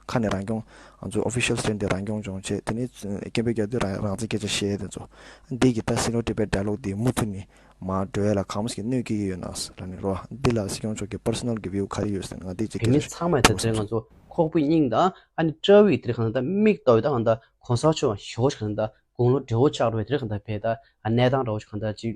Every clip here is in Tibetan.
ཁ་ནས་རང་སྐྱོང། ང་ཚོའི Official Stand དེ་རང་སྐྱོང་སྦྱོང་ཆེད་དེ་ནི་སྐད་འབོད་རྒྱག་དུས་རང་བཙན་སྐད་ཆ་བཤད་དེ་ཚོ། འདི་གི་ད་སྲིད་ལོ་དྲི་བའི་འདྲ་ལོག་འདི་མུ་མཐུད་ནི་མ་འགྲོ་ཡ་ལ་གང་མོས་ཀྱི་གནོད་སྐྱེལ་གྱི་ཡོད་ནའང་ར་ནི་རོ། འདི་ལ་སྲིད་སྐྱོང་མཆོག་གི Personal གི View ག་རེ་ཡོད་ཟེར་ན་ང་འདི་གཅིག་རེ་གལ་མི་ཆེ་ཚང་མ་ད་ལྟའི་ང་ཚོ་ཁོག་པུའི་སྙིང་དང་ཨ་ནི་སྐྲ་བྷིའི་དེར་གང་ད་མིག་ལྟོ་བའི་ད་གང་ད་གོང་ས་མཆོག་གང་ཞོགས་ཀྱི་གང་ད་དགུང་ལོ་བགྲེས་བོ་ཆགས་འགྲོ་བའི་དེར་གང་ད་བས་ད་གནས་སྟངས་ར་བོ་ཆགས་གང་ད་ཅིག་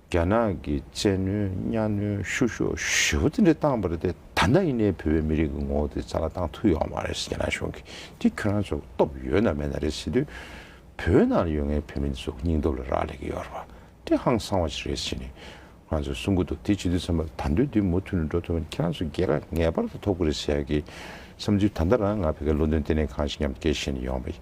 རྒྱ་ནག་གི་བཙན་གནོན་གཉའ་གནོན་བཤུ་གཞོག་ཞི་བ་དེ་འདྲ་བཏང་བ་རེད་དེ་ད་ནངས་ཡིན་ནའི་བོད་པའི་མི་རིགས་ཀྱི་ངོ་བོ་དེ་རྩ་བ་བཏང་ཐུབ་ཡོང་བ་རེད་རྒྱ་ནག་གཞུང་གིས་དེ་ཁྱོད་རང་ཚོ་སྟོབས་ཡོད་ན་མེད་ན་རེད་ཟེར་དུས་བོད་ནང་ལ་ཡོད་ངའི་བོད་མི་འདི་ཚོ་སྙིང་སྟོབས་ལ་རག་ལས་ཀྱི་ཡོད་རེད་བ་དེ་ཧང་སང་བ་ཞིག་རེད་ཟེར་ནས་ང་ཚོ་གསུང་གི་འདུག་དེ་བྱེད་དུས་བསམ་པ་ད་འདོད་དུས་མུ་མཐུད་ནས་འགྲོ་ཐུབ་ན་ཁྱེད་རང་ཚོ་རྒྱལ་ཁ་ངེས་པར་དུ་ཐོབ་གི་རེད་ཟེར་ཡག་གི་བསམ་ཚུལ་ད་ལྟ་རང་ང་བོད་སྐད་བློ་འདོན་ལྟེ་གནས་ཁང་ཞིག་ཉམས་དགའི་ཞེ་ནས་ཡོང་བ་ཡིན་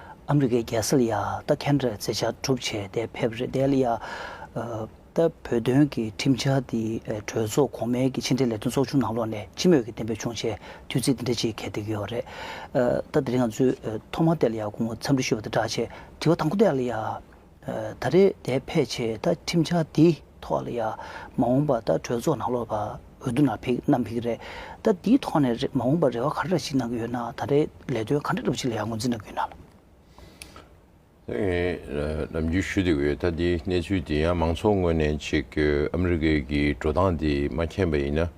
ཨ་མི་རི་ཀའི་རྒྱལ་སྲིད་ཡ་ད་ཁེ་འདྲ་རྩེ་ཆག་གྲུབ་བྱས་ཏེ་ཕེབས་རེ་བསྡད་ཡ་ད་བོད་དོན་གྱི་ཁྲིམས་འཆར་དེ་གྲོས་ཚོགས་གོང་མའི་གྱི་ཕྱི་འབྲེལ་ལས་དོན་ཚོགས་ཆུང་ནང་ལོགས་ནས་སྤྱི་མོས་ཀྱི་གཏན་འབེབས་བྱུང་རྗེས་དུས་ཚིགས་འདི་འདྲ་ཅིག་གལ་ཏེ་ཡོད་རེད་ད་དེ་རིང་ང་ཚོས་ཐོག་མར་བསྡད་ཡ་ཁོང་འཚམས་འདྲི་ཞུ་བ་དེ་འདྲ་བྱས་དྲི་བ་དང་པོ་བསྡད་ཡ། ད་རེས་དེ་ཕལ་ཆེར་ད་ཁྲིམས་འཆར་འདིའི་ཐོག་ལ་ཡང་མ་འོངས་པ་ད་གྲོས་ཚོགས་ནང་ལོག་པ་འོས་བསྡུ་ནང་ཕིགས་གནམ་ཕིགས་རེད། ད་འདིའི་ཐོག་ནས་མ་འོངས་པ་རེ་བ་ག་རེ་ར་ཞིག་གནང་གི་ཡོད་ན་ད་རེས་ལས་དོན་ག་འདྲ་སྒྲུབ་ཆེད་ལ་ཡང་ངོས་འཛིན་གནང་གི་ཡོད་ནའང། ནམ་རྒྱུན་ཞུ་དེ་འོས་ད་འདིའི་གནས་ཚུལ་འདི་ཡང་མང་ཚོགས་ངོས་ནས་ཆེད་བསྐྱོད་ཨ་མི་རི་ཀའི་གི་འགྲོ་སྟངས་འདི་མ་མཁྱེན་པ་ཡིན་ན།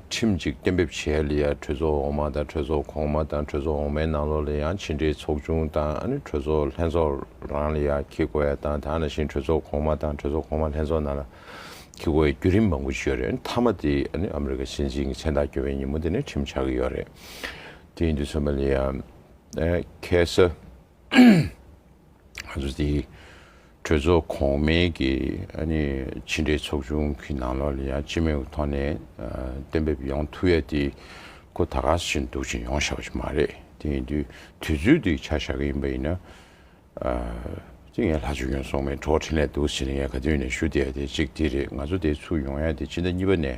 ཁྲིམས་གཅིག་གཏན་འབེབས་བྱས་ལ་ཡང་གྲོས་ཚོགས་འོག་མ་དང་གྲོས་ཚོགས་གོང་མ་དང་གྲོས་ཚོགས་འོག་མའི་ནང་ལོགས་ལ་ཡང་ཕྱི་འབྲེལ་ཚོགས་ཆུང་དང་གྲོས་ཚོགས་ལྷན་ཚོགས་རང་ལ་ཡང་ཁེ་དགོས་ཡ་དང་དང་ན་ཞིང་གྲོས་ཚོགས་གོང་མ་དང་གྲོས་ཚོགས་གོང་མ་ལྷན་ཚོགས་ནང་ལ་ཁེ་དགོས་ཡའི་བརྒྱུད་རིམ་མང་པོ་ཞིག་ཡོད་རེད་མཐའ་མ་དེ་ཨ་མི་རི་ཀ་སྲིད་འཛིན་གྱི་མཚན་རྟགས་གྱོན་པའི་ཉིན་མོ་དེ་ནས་ཁྲིམས་ཆགས་ཀྱི་ཡོད་རེད་དེ་ཡིན་དུས་ཚང་མ་ལ་ཡང་ཁེ་ས། ང་ཚོ་དེ་གྲོས་ཚོགས་གོང་མའི་གི་ཕྱི་འབྲེལ་ཚོགས་ཆུང་གི་ནང་ལོགས་ལ་ཡང་སྤྱི་མོས་ཀྱི་ཐོག་ནས་གཏན་འབེབས་ཡོང་ཐུབ་ཡ་དེ་ཁོ་ད་ག་ས་ཞིག་ནས་འདུག་ཅིང་ཡོང་ཤག་པ་ཞིག་མ་རེད་དེ་ཡིན་དུས་དུས་ཚོད་དུ་ཆ་བཞག་གི་ཡིན་པ་ཡིན་ན། དེ་ངས་ལྷ་ཆོས་ཀྱང་སོང་མེད་གྲོགས་འཕྲིན་ལས་འདུག་ཟེར་ནས་ངས་ག་དུས་ནས་ཞུ་བསྡད་ཡ་དེ་གཅིག་དེ་རེད་ང་ཚོ་དེ་ཚུར་ཡོང་ཡ་དེ་སྤྱི་ཟླ་གཉིས་པ་ནས་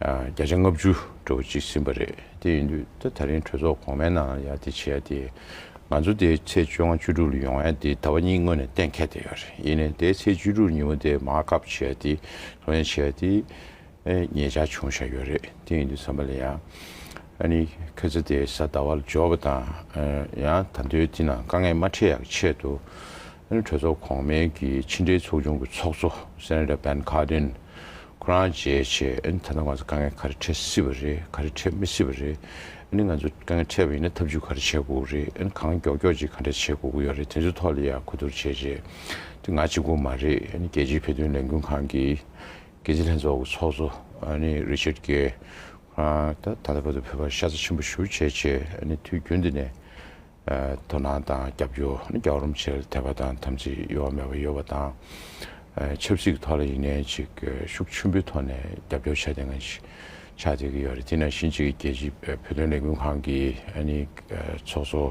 བརྒྱ་ཆ་ལྔ་བཅུ་འགྲོ་བ་གཅིག་ཟིན་པ་རེད། དེ་ཡིན་དུས་ད་ད་རིང་གྲོས་ཚོགས་གོང་མའི་ནང་ཡ་དེ་བྱས་ཡ་དེ། ང་ཚོ་དེ་ཚེས་བཅོ་ལྔ་བཅུ་དྲུག་ལ་ཡོང་ཡ་དེ་ད་བ་གཉིས་སྔོན་ནས་གཏན་འཁེལ་བསྡད་ཡོད་རེད་ཡིན་ནའི་དེ་ཚེས་བཅུ་དྲུག་ཉིན་མོ་དེ་མ་གབ་བྱས་ཡ་དེ་ལྷོད་གཡེང་བྱས་ཡ་དེ། ངེད་ཅག་བྱུང་བཞག་ཡོད་རེད་དེ་ཡིན་དུས་ས་མ་ལེ་ཡ། ཨ་ནི་ཁེ་ཚེ་དེ་ས་ད་བ་ལ་འབྱོར་བ་དང། ཡང་ད་འདོད་དེ་ན་དཀའ་ངལ་མ་འཕྲད་ཡ་གི་ཆེད་དུ། གྲོས་ཚོགས་གོང་མའི་གི་ཕྱི་འབྲེལ་ཚོགས་ཆུང་གི་ཚོགས་གཙོ Senator Ben Cardin། ཁོ་རང་བརྗེད་བྱས་ཨེ་ཐ་ན་ང་ཚོ་དཀའ་ངལ་ག་རེ་འཕྲད་སྲིད་པ་རེད་ག་རེ་འཕྲད་མི་སྲིད་པ་རེད་ཨེ་ནི་ང་ཚོ་དཀའ་ངལ་འཕྲད་པ་ཡིན་ན་ཐབས་ཇུས་ག་རེ་བྱེད་དགོས་ཀྱི་རེད་ཨེ་ནི་གང་མགྱོགས་མགྱོགས་ཅིག་ག་འདྲ་བྱེད་དགོས་ཀྱི་ཡོད་རེད་དེ་ཚོའི་ཐོག་ལ་ཡང་གོ་བསྡུར་བྱས་རྗེས་དེ་ང་གཅིག་པུ་མ་རེད་ཨེ་ནི་རྒྱལ་སྤྱིའི་བོད་དོན་ལས་འགུལ་ཁང་གི་འགན་འཛིན་ལྷན་ཚོགས་ཀྱི་ཚོགས་གཙོ་ཨེ་ནི་རི་ཆར་རྒྱལ་ཁོ་རང་ད་ལྟ་བོད་དུ་ཕེབས་པར་ཤ་ཚ་ཆེན་པོ་ཞུ་བྱས་རྗེས་ཨེ་ནི་དུས་རྒྱུན་དེ་ནས། དོ་སྣང་དང་རྒྱབ་སྐྱོར་རྒྱག་རུམ་ཆེར་ཐེབས་པ་དང་དམ་ཚིག་གཡོ་བ་མེད་པ་ཡོད་པ་དང། ཆབ་སྲིད་ཀྱི་ཐོག་ལ་ཡིན་ནའི་ཅིག་ཤུགས་ཆེན་པོའི་ཐོག་ནས་རྒྱབ་སྐྱོར་བྱས་ཏེ་ང་ཅིག་ཆགས་བསྡད་ཀྱི་ཡོད་རེད་དེས་ན་གཞིས་བྱེས་ཀྱི་རྒྱལ་སྤྱིའི་བོད་དོན་ལས་འགུལ་ཁང་གི་ཚོགས་གཙོ་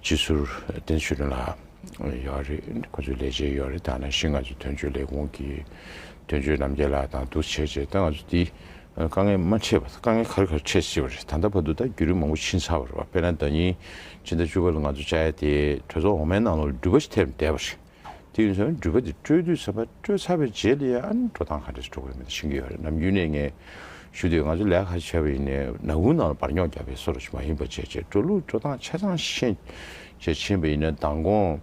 སྤྱི་ཟུར་བསྟན་ཆོས་སྒྲོན་ལགས་ཡོད་རེད་ཁོང་ཚོའི་ལས་བྱེད་ཡོད་རེད་ད་ནང་བཞིན་ང་ཚོའི་དོན་གཅོད་ལས་ཁུངས་ཀྱི་དོན་གཅོད་རྣམ་རྒྱལ་ལགས་དང་འདུ་བྱེད་བྱས་ད་ང་ཚོ་འདི་དཀའ་ངལ་མ་འཕྲད་པ་དཀའ་ངལ་གར་གར་འཕྲད་སྲིད་པ་རེད་ད་ལྟ་བར་དུ་ད་བརྒྱུད་རིམ་མང་པོ་ཕྱིན་ཚར་བ་རེད་བ་དཔེར་ན་ཟླ་གཉིས་ཕྱི་ཟླ་བཅུ་པ་ལ་ང་ཚོ་བཅའ་ཡ་དེ་གྲོས་ཚོགས་འོག་མའི་ནང་ལོག་ལ་འགྲུལ་པ་ཞིག་ཐེབས་ནས་བསྡད་པ་རེད་དེ་ཡིན་ཚོད་འགྲུལ་པ་དེ་སྤྲོད་དུས་ཚར་བ་སྤྲོད་ཚར་བའི་རྗེས་ལ་ཡང་འགྲོ་སྟངས་ག་འདྲ་འགྲོ་གི་ཡོད་མེད་དེ་ཤེས་ཀྱི་ཡོད་རེད་ནམ་རྒྱུན་ནས་ངས་ཞུ་དུས་ང་ཚོ་ལས་ཁ་ཆེ་བ་ཡིན་ནས་ནང་ཁུང་ནང་ལ་བར་རྙོག་རྒྱག་པའི་སོ་ར་ཞིག་མ་ཡིན་པ་བཅས་བཅས་འགྲོ་ལུགས་འགྲོ་སྟངས་ཆ་ཚང་ཤེས་བྱས་ཕྱིན་པ་ཡིན་ན་མདང་དགོང་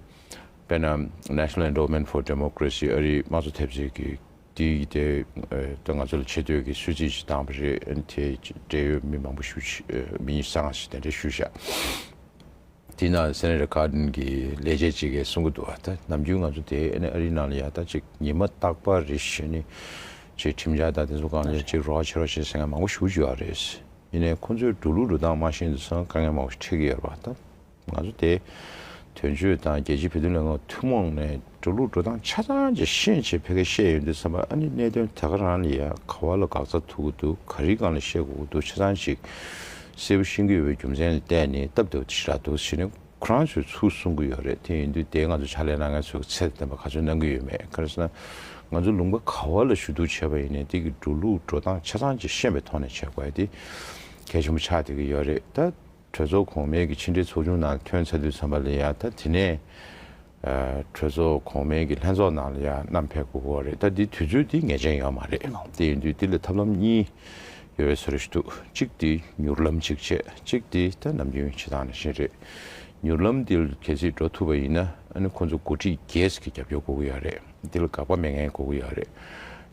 དཔེར་ན National Endowment for Democracy ཨ་རིའི་དམངས་གཙོ་ཐེབས་རྩའི་དེ་ཡིས་དེ་ད་ང་ཚོ་ལ་ཆེ་བསྟོད་ཀྱི་སྲོལ་རྩིས་ཤིག་བཏང་བ་རེད་དེ་འབྲེལ་ཡོད་མི་མང་པོ་ཞུ་མི་ཉི་བཟང་ཞིག་དེ་འདྲ་ཞུ་བཞག་དེ་ན་སེན་རི་ཁཱ་ཏན་གྱི་ལས་བྱེད་ཅིག་གིས་གསུང་གི་འདུག་ད་ནམ་རྒྱུན་ང་ཚོ་དེ་ཨ་ནི་ཨ་རིའི་ནང་ལ་ཡག་ད་ཅིག་ཉི་མ་རྟག་པ་རེད་བཞིན་ནི་ཅིག་ཁྲིམས་འཆར་དང་དེ་ཚོ་གང་ཅིག་ཅིག་རོགས་ཆེ་རོགས་ཆེ་ཟེར་མཁན་མང་པོ་ཞུ་བཞུགས་ཡག་རེད་ཡིན་ནའི་ཁོང་ཚོའི་འགྲོ་ལུགས་འགྲོ་སྟངས་སྨྲ་བཞིན་དུ་སང་དཀའ་ངལ་མང་པོ་ཞིག་འཕྲད་ཀྱི་ཡོད་རེད་པ་ད། ང་ཚོ་དེ་དོན་གཅོད་དང་རྒྱལ་སྤྱིའི་བོད་དོན་ལས་ཁང་ཐུན་མོང་ནས་འགྲོ་ལུགས་འགྲོ་སྟངས་ཆ་ཚང་གི་ཤེས་བྱེད་ཕལ་ཁ་ཤས་ཡོད་འདུག་བསམ་པ་ཨ་ནི་གནད་དོན་དེ་ག་རང་ལ་ཡང་ག་བ་ལ་དགག་རྩ་ཐུག་གི་འདུག་ག་རིག་གང་ལ་བཤད་དགོས་ཀྱི་འདུག་ཆ་ཚང་ཅིག་གསལ་བོ་ཤེས་ཀྱི་ཡོད་པའི་རྒྱུ་མཚན་ལ་བལྟས་ནས་སྟབས་བདེ་བོ་དེ་ཞིག་རག་འདུག་ཟེར་ནས་ཁོ་རང་ཚོའི་ཚུལ་གསུང་གི་ཡོད་རེད་དེ་ཡིན་དུས་དེ་ང་ཚོ་ཕྱག་ལས་གནང་མཁན་ཚོས་ཚད་ལྡན་པ་ག་ཚོད་གནང་གི་ཡོད་མེད་ག་རེ་ཟེར་ན་ང་ཚོ་ལུང་པ་ག་བ་ལ་ཞུ་གཏུག་བྱས་པ་ཡིན་ནས་དེ་གི་འགྲོ་ལུགས་འགྲོ་སྟངས་ཆ་ཚང་ཅིག་ཤེས་པའི་ཐོག་ནས་བྱས་དགོས་པ་དེ་གལ་ཆེན་པོ་ཆགས་བསྡད་ཀྱི་ཡོད་རེད་ད། གྲོས་ཚོགས་གོང་མའི་གི་ཕྱི་འབྲེལ་ཚོགས་ཆུང་ནང་ཐོན་ཚ་དུས་ཚང་པ་ལས་ཡ་ད་དེ་ནས་གྲོས་ཚོགས་གོང་མའི་གི་ལྷན་ཚོགས་ནང་ལ་ཡ་རྣམས་ཕེབས་དགོས་གོ་རེད་ད་དེ་དུས་ཚོད་དེ་ངེས་ཅན་ཡོད་མ་རེད་དེ་ཡིན་དུས་དེ་ལ་ཐབས་ལམ་གཉིས་ཡོད་བས་ཟེར་རེ་ཞུ་འདུག་གཅིག་དེ་མྱུར་ལམ་གཅིག་བྱས་གཅིག་དེ་ད་ནམ་རྒྱུན་བྱེད་སྟངས་ནང་བཞིན་རེད་མྱུར་ལམ་དེ་ལ་གལ་སྲིད་འགྲོ་ཐུབ་པ་ཡིན་ན་ཨ་ནི་ཁོང་ཚོ་འགོ་ཁྲིད་རྒྱས་གི་རྒྱབ་སྐྱོར་དགོས་གི་ཡ་རེད་དེ་ལ་དགག་པ་མེད་མཁན་དགོས་གི་ཡ་རེད་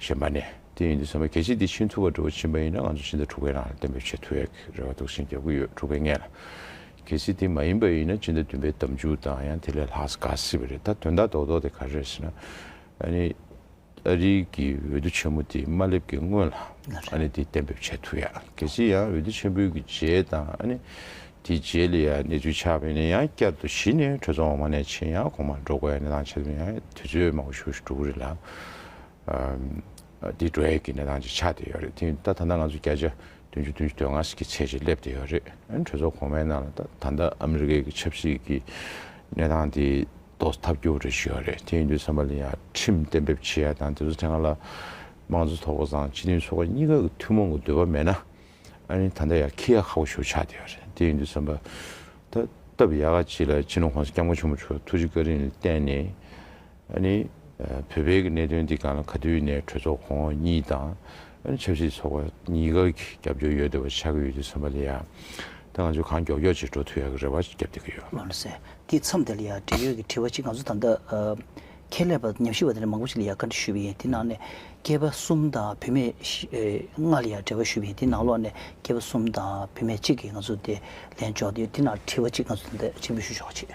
གཞན་པ་ནས། དེ་ཡིན་དུས་ཚང་མས་གལ་ཆེ་འདི་ཤིན་ཐུ་བ་འགྲོ་བ་ཕྱིན་པ་ཡིན་ན་ང་ཚོ་ཤིན་ཏུ་འཁྲུག་པའི་རང་རེ་བསྟན་པའི་ཆེས་མཐོ་ཡག་གི་རེ་བ་དུག་སེལ་རྒྱབ་གི་ཡོད་འཁྲུག་པའི་ངན་ལ། གལ་ཆེ་དེ་མ་ཡིན་པ་ཡིན་ན་སྤྱི་ཟླ་བདུན་པའི་དམ་འཇུག་དང་ཡང་དེ་ལས་ལྷག་དཀའ་སྲིད་པ་རེད་ད་དོན་དག་དོག་དོག་དེ་ག་རེད་ཟེར་ན། ཨ་ནི། ཨ་རིའི་གི་འོས་བསྡུ་ཆེན་མོ་དེ་མ་སླེབས་གི་སྔོན་ལ། ཨ་ནི་དེ་བསྟན་པའི་ཆེས་མཐོ་ཡག་གལ་ཆེ་ཡང་འོས་བསྡུ་ཆེན་པོའི་གི་རྗེས་དང་ཨ་ནི། དེ་རྗེས་ལ་ཡང་གནས་ཚུལ་ཆགས་པས་ནི་ཡང་བསྐྱར་དུ་གཞི་ནས་གྲོས་ཚོགས་འོག་མ་ནས་ཕྱིན་ཡང་གོང་མར་འགྲོ་དགོས་ཡ་ནི་ཐང་ཆད་དུས་ཡང་དུས་ཚོད་མང་བོ་ཞུགས་ཞུགས་འགྲོ་གི་རེད་ལ། དེའི་འགྲོ་ཡས་ཀྱི་གནས་སྟངས་ཅིག་ཆགས་བསྡད་ཡོད་རེད་དེ་ད་ད་ལྟ་ང་ཚོ་བརྒྱ་ཆ་བདུན་ཅུ་བདུན་ཅུ་དོན་ལྔ་ཟིག་གི་ཚད་ཅིག་སླེབས་བསྡད་ཡོད་རེད་གྲོས་ཚོགས་གོང་མའི་ནང་ལ་ད་ད་ལྟ་ཨ་མི་རི་ཀའི་གི་ཆབ་སྲིད་ཀྱི་གནས་སྟངས་དེ་རྟོགས་ཐབས་སྐྱོ་བོ་རེ་ཞིག་ཡོད་རེད་དེ་ཡིན་དུས་བསམ་པ་ལ་ཡང་ཁྲིམས་གཏན་འབེབས་བྱེད་ཡ་དང་དེ་ཚོ་ཐེངས་ལ་དམངས་གཙོ་ཚོགས་པ་དང་སྤྱི་མཐུན་ཚོགས་པ་གཉིས་ཀ་གི་ཐུན་མོང་གི་འདོད་པ་མེད་ན་ཨ་རིའི་ད་ལྟ་ཡང་ཁི་ཡ་ཁ་བོ་ཞིག་ཆགས་བསྡད་ཡོད་རེད་དེ་ཡིན་དུས་བསམ་པ་ད་སྟབས་ཡག་ག་ཅིག་ལ་ཕྱི་ནང་གོང་ས་སྐྱབས་མགོན་ཆེན་པོ་མཆོག་ཐུགས་རྗེ་བཀའ་དྲིན་ལ་བརྟེན་ནས། ཨ་ནི། བོད་པའི་གནད་དོན་འདི་ག་ལ་ག་དུས་ནས་གྲོས་ཚོགས་ཁོངས་གཉིས་དང། ཆབ་སྲིད་ཚོགས་པ་གཉིས་ཀ་གི་རྒྱབ་སྐྱོར་ཡོད་འདོད་པ་ཆགས་ཀྱི་ཡོད་དུས་བསམ་པ་ལ་ཡ། ད་ང་ཚོས་གང་མགྱོགས་མགྱོགས་བྱེད་འགྲོ་ཐུབ་ཡག་གི་རེ་བ་བརྒྱབ་བསྡད་ཀྱི་ཡོད། ལོ་ཟེར། དེའི་མཚམས་དེ་ལ་ཡང་འབྲེལ་ཡོད་ཀྱི་དྲི་བ་གཅིག་ང་ཚོ་ད་ལྟ། ཁྱད་ལས་པ་ཉམས་ཞིབ་པ་དེ་འདྲ་མང་པོ་ཞིག་ལ་ཡང་བཀའ་འདྲི་ཞུས་པ་ཡིན་དེའི་ནང་ནས། སྐྱེས་པ་གསུམ་དང་བུད་མེད། ལྔ་ལ་ཡང་འབྲེལ་བ་ཞུས་པ་ཡིན་དེའི་ནང་ལོགས་ནས་སྐྱེས་པ་གསུམ་དང་བུད་མེད་གཅིག་གིས་ང་ཚོ་དེ་ལན་འཇོག་བསྡད་ཡོད་དེའི་ནང་དྲི་བ་གཅིག་ང་ཚོ་ད་ལྟ་ཕྱིར་འབུལ་ཞུ་ཆོག་ཆེད།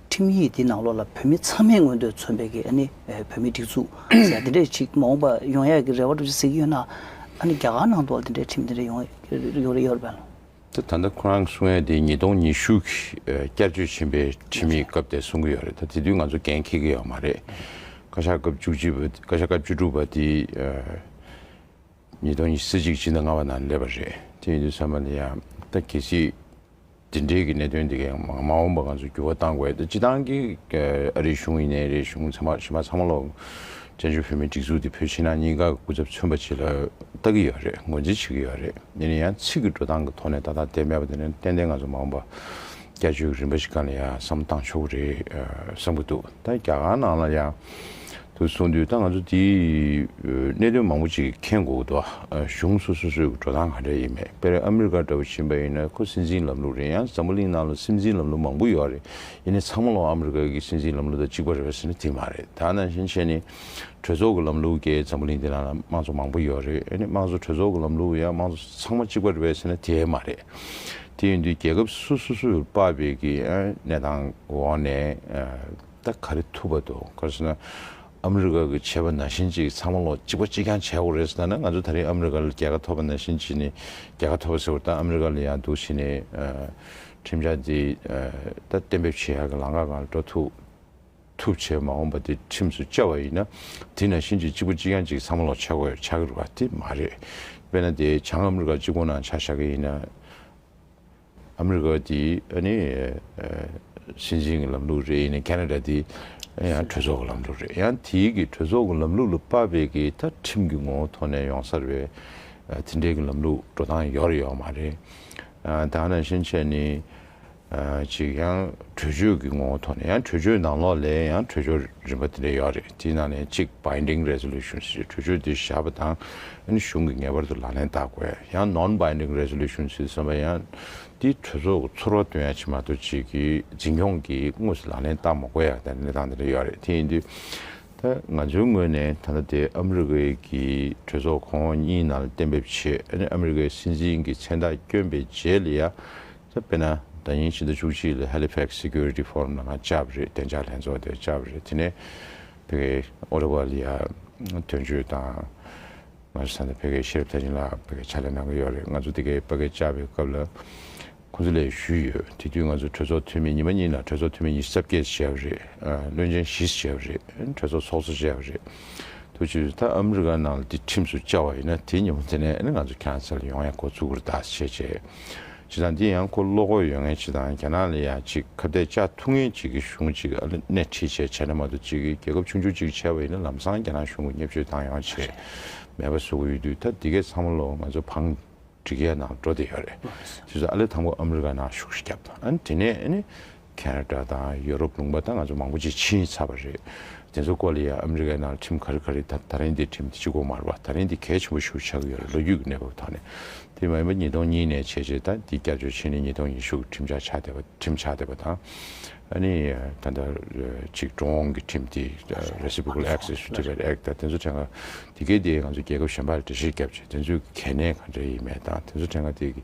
ཁྲིམས་ཡིག་འདི་ནང་ལོགས་ལ་བོད་མི་ཚང་མའི་མངོན་འདོད་མཚོན་པའི་གི་ཨ་ནི་བོད་མི་སྒྲིག་འཛུགས་ཟེར་ཡ་དེ་འདྲས་ཆིག་མ་འོངས་པ་ཡོང་ཡ་གི་རེ་བ་འགྲོ་ཆིག་ཟིག་ཡོད་ན་ཨ་ནི་རྒྱ་གར་ནང་དུ་ལ་དེ་འདྲས་ཁྲིམས་དེ་འདྲས་ཡོང་ཡོད་རེ་ཡོད་རེད། དེ་ད་ལྟ་ཁོ་རང་གསུང་ཡ་དེ་ཉིས་སྟོང་ཉི་ཤུ་གི་བསྐྱར་བཅོས་ཆེན་པོའི་ཁྲིམས་ཡིག་སྐབས་དེ་གསུང་གི་ཡོད་རེད་ད་དེ་དུས་ང་ཚོ་འགན་འཁེལ་གི་ཡོད་མ་རེད་བཀའ་ཤག་སྐབས་བཅུ་གཅིག་པ་བཀའ་ཤག་སྐབས་བཅུ་དྲུག་པ་དེ། ཉིས་སྟོང་ཉི་ཚེ་གཅིག་ཕྱི་ཟླ་ལྔ་བ་ནང་སླེབས་པ་རེད། དེ་ཡིན་དུས་ཚང་མ་ལ་ཡང་ད་གལ་སྲིད་འདི་འདྲའི་གི་གནད་དོན་འདི་གའི་མ་འོངས་པ་ང་ཚོ་འགྱུར་བ་གཏང་དགོས་ད་སྤྱི་བཏང་གི་ཨ་རིའི་གཞུང་ཡིན་ནའི་རེ་གཞུང་ཚང་མ་གཞི་མ་ཚང་མ་ལོ་བཙན་བྱོལ་བོད་མིའི་སྒྲིག་འཛུགས་འདི་བོད་ཕྱི་ནང་གཉིས་ཀ་གི་སྐུ་ཚབ་མཚོན་པ་བྱེད་ལ་ལྟ་གི་ཡོད་རེད་ངོས་འཛིན་བྱེད་གི་ཡོད་རེད་ཡིན་ན་ཡང་ཚིག་གི་འགྲོ་སྟངས་གི་ཐོག་ནས་ཏག་ཏག་བསྡད་མེད་པ་དེ་ནི་ཏན་ཏན་ང་ཚོ་མ་འོངས་པ་སྐྱ་ཆོས་གི་རིམ་པ་ཞིག་ག་ལ་ཡང་བསམ་བཏང་ཆོག་གི་རེད་བསམ་གི་འདུག་ད་རྒྱ་གར་ནང་ལ་ཡང། དུ་གསུངས་དུས་ད་ང་ཚོ་དེའི་གནད་དོན་མང་པོ་ཅིག་མཁྱེན་དགོས་འདུག་གཞུང་སོ་སོ་སོའི་འགྲོ་སྟངས་ག་འདྲ་ཡིན་མེད་དཔེར་ཨ་མི་རི་ཀ་འདྲ་བོ་ཕྱིན་པ་ཡིན་ན་ཁོ་སྲིད་འཛིན་ལམ་ལུགས་རེད་ཡང་ཛམ་བུ་གླིང་ནང་ལ་སྲིད་འཛིན་ལམ་ལུགས་མང་པོ་ཡོད་རེད་ཡིན་ནས་ཚང་མ་ལོག་ཨ་མི་རི་ཀ་གི་སྲིད་འཛིན་ལམ་ལུགས་དང་གཅིག་པ་རེད་ཟེར་ན་དེ་མ་རེད་ད་ནང་བཞིན་བཤད་ནས་གྲོས་ཚོགས་ཀྱི་ལམ་ལུགས་ཀྱིས་ཛམ་བུ་གླིང་འདི་ནང་ལ་དམངས་གཙོ་མང་པོ་ཡོད་རེད་ཡིན་ནས་དམངས་གཙོ་གྲོས་ཚོགས་ཀྱི་ལམ་ལུགས་ཡང་དམངས་གཙོ་ཚང་མ་གཅིག་པ་རེད་ཟེར་ན་དེ་མ་རེད་དེ་ཡིན་དུས་རྒྱལ་ཁབ་སོ་སོ་སོའི་པ་བེ་ཀྱི་གནས་སྟངས་འོག་ནས། ད་ག་རེ་ཐུབ་པ་འདུག་ག་རེ་ཟེར་ན་ཨ་མི་རི་ཀ་གི་ཆད་པ་ན་བཞིན་ཅིག་ཚང་མ་ལོ་གཅིག་པ་གཅིག་རྐྱང་བྱས་འོག་རེད་ཟེར་ན་ང་ཚོ་ད་རིང་ཨ་མི་རི་ཀ་ལ་རྒྱལ་ཁ་ཐོབ་པ་ན་བཞིན་ཅིག་ནི་རྒྱལ་ཁ་ཐོབ་པ་ཟེར་བ་ལྟར་ཨ་མི་རི་ཀ་ལ་ཡང་འདུག་བྱས་ནས་ཁྲིམས་འཆར་འདི་ད་གཏན་འབེབས་བྱེད་ཡག་གི་ལང་ཀ་གང་ལ་འགྲོ་ཐུབ་ཐུབ་བྱས་མ་འོངས་པ་འདི་ཁྲིམས་སུ་བཅའ་བ་ཡིན་ན་དེ་ན་བཞིན་ཅིག་གཅིག་པ་གཅིག་རྐྱང་ཅིག་ཚང་མ་ལོ་ཆ་དགོས་ཆ་གི་རེད་པ་དེ་མ་རེད་དཔེར་ན་དེ་བྱང་ཨ་མི་རི་ཀ་གཅིག་པོ་ནང་ཆ་བཞག་གི་ཡིན་ན། ཨ་མི་རི་ཀ་དེ་ནི་སྲིད་འཛིན་གྱི་ལམ་ལུགས་རེད་ཡིན་ནའི་ཁ་ན་ད་དེ་ཡང་གྲོས་ཚོགས་ཀྱི་ལམ་ལུགས་རེད་ཡང་དེ་གི་གྲོས་ཚོགས་ཀྱི་ལམ་ལུགས་ལ་དཔའ་བས་གི་ད་ཁྲིམས་ཀྱི་ངོ་བོ་ཐོག་ནས་ཡོང་སར་བས་དེ་འདྲའི་གི་ལམ་ལུགས་འགྲོ་སྟངས་ཡོད་རེད་ཡོད་མ་རེད་ད་ནང་བཞིན་བྱས་ནི་ཅིག་ཡང་གྲོས་ཆོད་ཀྱི་ངོ་བོ་ཐོག་ནས་ཡང་གྲོས་ཆོད་ནང་ལོགས་ལས་ཡང་གྲོས་ཆོད་རིམ་པ་དེ་འདྲ་ཡོད་རེད། དེའི་ནང་ནས་གཅིག Binding Resolutions ཞེས་གྲོས་ཆོད་འདི་བཞག་པ་དང་གཞུང་གིས་ངེས་པར་དུ་ལག་ལེན་བསྟར་དགོས། ཡང Non-Binding Resolutions ཞེས་གསུངས་པ་ཡང། དེ་གྲོས་ཚོགས་ཀྱི་ཚོར་བ་དོན་ཡར་ཕྱིན་མ་གཏོགས་བྱེད་ཀྱི་འཛིན་སྐྱོང་གིས་དངོས་སུ་ལག་ལེན་བསྟར་མ་དགོས་ཡ་དེ་གནས་སྟངས་དེ་འདྲ་ཡོད་རེད་དེ་ཡིན་དུས། ད་ང་ཚོའི་ངོས་ནས་ད་ལྟ་དེ་ཨ་མི་རི་ཀའི་གི་གྲོས་ཚོགས་གོང་འོག་གཉིས་ནང་ལ་གཏན་འབེབས་བྱས་ཨ་མི་རི་ཀའི་སྲིད་འཛིན་གྱི་མཚན་རྟགས་བསྐྱོན་པའི་རྗེས་ལ་ཡ་དཔེར་ན། ད་ཉིན་ཕྱི་ཟླ་བཅུ་གཅིག་ལ Halifax Security Forum ནང་བཅར་བ་རེད་བདེ་འཇགས་ལྷན་ཚོགས་དེར་བཅར་བ་རེད་དེ་ནས་བོད་རྒྱའི་ཨོ་རི་བྷ་ལི་ཡ་དོན་གཅོད་དང། ང་ཚོ་ཚང་མས་བོད་རྒྱའི་ཤེས་རབ་མཐའ་ཡིན་ལ་བོད་རྒྱའི་ཕྱག་ལས་གནང་གི་ཡོད་རེད་ང་ཚོ་འདི་གའི་དཔའ་སྐད་བཅར་བའི་སྐབས་ལ་ཁོང་ཚོ་ལས་ཞུས་ཡོད་དེ་དུས་ང་ཚོ་གྲོས་ཚོགས་འཐུས་མི་ཉི་མ་གཉིས་ལ་གྲོས་ཚོགས་འཐུས་མི་ཉི་ཤུ་རྩ་བརྒྱད་བྱས་པ་རེད་བློན་ཆེན་བཞི་བྱས་པ་རེད་གྲོས་ཚོགས་ཚོགས་གཙོ་བྱས་པ་རེད་ཐུགས་རྗེ་ཆེ་ད་ཨ་མི་རི་ཀ་ནང་ལ་དེ་ཁྲིམས་སུ་བཅའ་བ་ཡིན་ན་དེ་ཉིན་མོ་དེ་ནས་ང་ཚོ་ཁྱང་སེལ་ཡོང་ཡ་གོ་ཚུགས་ཀུར་དག་བྱེད་བྱེད། བྱེད་སྟངས་འདི་ཡང་ཁོ་བློ་ཁོག་ཡོད་ངེས་བྱེད་སྟངས་རྒྱ་ནག་ལ་ཡང་ཅིག་ཁ་གཏད་ཅག་ཐུག་ངེས་བྱེད་ཀྱི་གཞུང་ཅིག་ཨ་ལི་སྣེ་ཁྲིད་བྱས་བྱས་ན་མ་གཏོགས་ཅིག་རྒྱལ་ཁབ་ཆུང་ཆུང་ཅིག་བྱས་པ་ཡིན་ན་ལམ་སང་རྒྱ་ནག་གཞུང་གི་སྙེབས་བཅོས་བཏང་ཡོང་བྱས་མེད་པ་བཟོ་གི་ཡོད་དུས་ད་འདི་གས་ཚང་མ་ལོ་ང་ཚོ་བང་སྒྲིག་ཡས་ནང་འགྲོ་བསྡད་ཡོད་རེད། དེ་ཚོ་ཨ་ལི་དང་པོ་ཨ་མི་རི་ཀ་ནང་ཤུགས་ཤིག་བརྒྱབ། ཨ་ནི་དེ་ནས་ཨ་ནི། ཁེན་ར་ཏྲ་དང་ཡོ་རོབ་ལུང་པ་དང་ང་ཚོ་མང་པོ་ཅིག་ཕྱིན་ཚར་བ་རེད། དེ་ཚོ་ཀོ་ལི་ཡ་ཨ་མི་རི་ཀའི་ནང་ཁྲིམས་ཁ་རི་ཁ་རི་དང་ད་རིང་འདིར་ཁྲིམས་སྤྱི་ཁོག་མར་བ་ད་རིང་འདི་གལ་ཆེན་པོ་ཞུགས་ཆགས་ཀྱི་ཡོད་རེད་ལོ་རྒྱུས་ཀྱི་གནས་བབ་ཐོག་ནས་དེ་མ་ཡིན་པ་ཉིས་སྟོང་གཉིས་ནས་བྱས་རྗེས་ད་འདི་སྐྱབས་བཅོལ་ཕྱིན་ནས་ཉིས་སྟོང་ཉི་ཤུ་གི་ཁྲིམས་ཆགས་ཆགས་བསྡད་པ་ཁྲིམས་ཆགས་བསྡད་པ་དང་ཨ་ནི་ད་ལྟ་ཅིག་འགྲོ་འོང་གི་ཁྲིམས་དེ Reciprocal Access to Tibet Act དང་དེ་ཚོ་ཕྲན་ག་དེ་གས་དེ་ང་ཚོ་རྒྱལ་ཁབ་གཞན་པར་འགྲེལ་བཤད་བརྒྱབ་རྗེས་དེ་ཚོས་གལ་གནད་ག་འདྲ་ཡིན་མེད་དང་དེ་ཚོ་ཕྲན་ག་དེ་གི་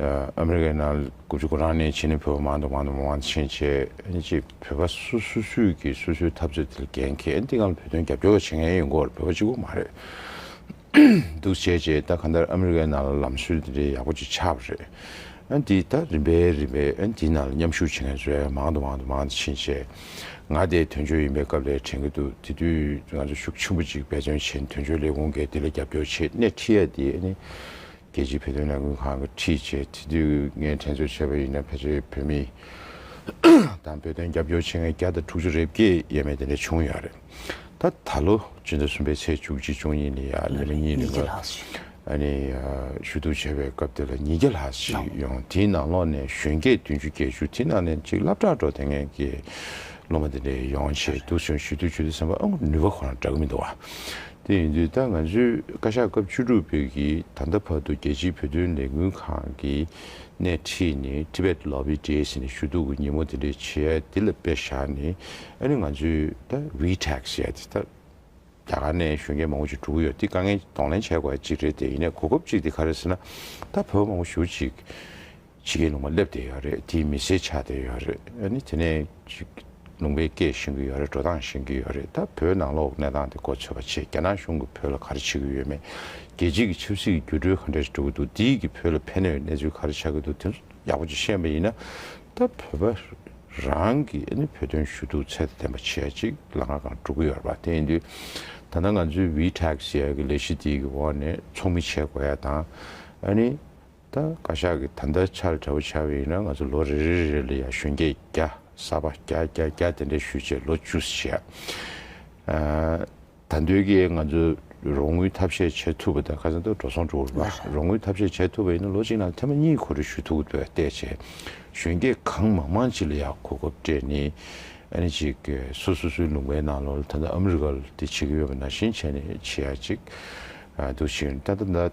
ཨ་མི་རི་ཀའི་ནང་དགུ་བཅུ་གོ་གྲངས་ནས་ཕྱི་ནས་བོད་པ་མང་དུ་མང་དུ་མང་དུ་ཕྱིན་རྗེས་ཀྱི་བོད་པ་སུ་སུ་སུས་ཀྱིས་སུ་སུའི་འཐབ་རྩོད་དེ་ལ་འགན་འཁེལ་འདི་ང་ལ་བོད་དོན་རྒྱབ་སྐྱོར་བ་བྱེད་མཁན་ཡོད་མགོ་བ་བོད་པ་གཅིག་པོ་མ་རེད་འདུག་བྱས་རྗེས་ད་ག་འདར་ཨ་མི་རི་ཀའི་ནང་ལ་ལམ་སྲོལ་དེ་འདྲའི་ཡག་པོ་ཅིག་ཆགས་པ་རེད་འདི་ད་རིམ་པས་རིམ་པས་འདི་ནང་ལ་མཉམ་ཞུགས་བྱེད་མཁན་ཚོའི་མང་དུ་མང་དུ་མང་དུ་ཕྱིན་རྗེས་ང་དེ་དོན་གཅོད་ཡིན་པའི་སྐབས་ལས་དྲན་གྱི་འདུག་དེ་དུས་ང་ཚོ་ཤུགས་ཆེན་པོ་ཅིག་འབད་བརྩོན་བྱས་ནས་དོན་གཅོད་ལས་ཁུངས་འགས་དེ་ལ་རྒྱབ་སྐྱོར་བྱེད་སྣེ་ཁྲིད་ཡ་དེ་ནི་རྒྱལ་སྤྱིའི་བོད་དོན་ལས་འགུལ་ཁང་གི་ཁྲིད་བྱས་ཚེ་དུས་ངན་དྲན་གསོ་བྱས་པ་ཡིན་ན་ཕལ་ཆེར་བོད་མི་དང་བོད་དོན་རྒྱབ་སྐྱོར་བྱེད་མཁན་བརྒྱ་དང་དྲུག་ཅུ་རེ་བརྒྱད་ཡས་མས་དེ་འདྲ་བྱུང་ཡོད་རེད། ད་ད་ལོ་སྤྱི་ཟླ་གསུམ་པའི་ཚེས་བཅུ་གཅིག་བཅུ་གཉིས་ལ་ཡང་ཉིན་རེ་གཉིས་རེ་འགའ་ནས་ཞུ་གཏུག་བྱས་པའི་སྐབས་དེ་ལ་ཉིས་བརྒྱ་ལྷག་ཞིག་ཡོང་དེའི་ནང་ལོག་ནས་གཞོན་སྐྱེས་བདུན་ཅུ་བརྒྱད་ཅུ་དེའི་ནང་ནས་གཅིག་བླ་བྲག་འགྲོ་དེ་ངན་གྱི་སློབ་མ་དེ་འདྲ་ཡོང་བྱས་འདུག་ཟེར་ཞུ་གཏུག་ཞུ་དུས་ཚན་པ་ཨང་ནུས་པ་ཁོ་རང་འདྲ་གི་མི་འདུག་བ། དེ་ཡིན་དུས་ད་ང་ཚོས་བཀའ་ཤག་སྐབས་བཅུ་དྲུག་པོད་ཀྱིས་ད་ལྟ་བར་དུ་རྒྱལ་སྤྱིའི་བོད་དོན་ལས་འགུལ་ཁང་གི་སྣེ་ཁྲིད་ནས Tibet Lobby འདྲའི་ཟེར་ནས་ཞུ་གཏུག་གི་ཉིན་མོ་དེ་འདྲའི་བྱེད་ཡ་འདི་ལ་དཔེ་བཞག་ནས་ཨ་རི་ང་ཚོས་ད VTax ཞེས་དེ་ད་རྒྱ་གར་ནས་གཞོན་སྐྱེས་མང་བོ་ཅིག་འགྲོ་གི་ཡོད་དེ་དཀའ་ངལ་གདོང་ལེན་བྱས་དགོས་ཡ་ཅིག་རེད་དེ་ཡིན་ནས་གོ་སྐབས་ཅིག་དེ་ག་རེ་ཟེར་ན་ད་བོད་པོ་མང་བོ་ཞུ་ཅིག་ཕྱི་གའི་ལུང་པ་སླེབས་བསྡད་ཡོད་རེད་དེའི་མི་སེར་ཆགས་བསྡད་ཡོད་རེད་དེ་ནས་ཅིག་ལུང་པའི་སྐད་བཤད་གི་ཡོད་རེད་འགྲོ་སྟངས་བཤད་གི་ཡོད་རེད་ད་བོད་ནང་ལོག་གནས་སྟངས་དེ་གོ་ཚོད་པ་ཆེ་རྒྱ་ནག་གཞུང་གི་བོད་ལ་ག་རེ་བྱེད་གི་ཡོད་མེད་རྒྱལ་སྤྱི་གི་ཆབ་སྲིད་ཀྱི་འགྱུར་འགྲོས་ག་འདྲ་ཞིག་འགྲོ་གི་འདུག་དེའི་གི་བོད་ལ་ཕན་གནོད་གནས་ཚུལ་ག་རེ་ཆགས་གི་འདུག་དེ་ཚོ་ཡག་པོ་ཅིག་ཤེས་པ་ཡིན་ན་ད་བོད་པ་རང་གི་བོད་དོན་ཞུ་གཏུག་ཚད་ལྡན་པ་ཆེ་ཅིག་ལ་ང་གང་འགྲོ་གི་ཡོད་རེད་པ་དེ་ཡིན་དུས་ད་ལྟ་ང་ཚོའི་བྷི་ཐྲེག་སི་ཡའི་གི་ལས་གཞི་དེའི་གི་འོག་ནས་ཚོགས་མི་བྱེད་དགོས་ཡ་དང་ཨ་ནི། ད་བཀའ་ཤག་གི་ད་ལྟ་ཆར་འདྲ་བོ་ཆགས་པས་ཡིན་ན་ང་ཚོ་ལོ་རེ་རེ་རེ་རེ་ལ་ཡང་གཞོན་སྐྱེས་བརྒྱ་གསར་པ་བརྒྱ་བརྒྱ་བརྒྱ་དེ་འདྲ་ཞུས་རྗེས་ལོ་བཅུ་ཞེ་ད་འདོད་ཀྱི་ང་ཚོ་རོགས་དངུལ་ཐབས་ཤེས་བྱེད་ཐུབ་པ་དང་ཁ་སང་ཏུ་འགྲོ་སོང་འགྲོ་འོང་ལ་རོགས་དངུལ་ཐབས་ཤེས་བྱེད་ཐུབ་པ་ཡིན་ན་ལོ་གཅིག་ནང་ཐེངས་མ་གཉིས་གོ་རེ་ཞུ་ཐུབ་པ་བལྟས་རྗེས་གཞོན་སྐྱེས་གང་མང་མང་ཅིག་ལ་ཡང་གོ་སྐབས་སྤྲད་ནས་ཨ་ནི་ཅིག་སུ་སུ་སུའི་ལུང་པའི་ནང་ལོ་ད་ལྟ་ཨ་མི་རི་ཀ་ལ་དེ་བྱེད་ཀྱི་ཡོད་པ་ནང་བཞིན་བྱས་ནས་བྱེད་ཡ་ཅིག་འདུག་ཕྱིར་ད་ལྟ་ད།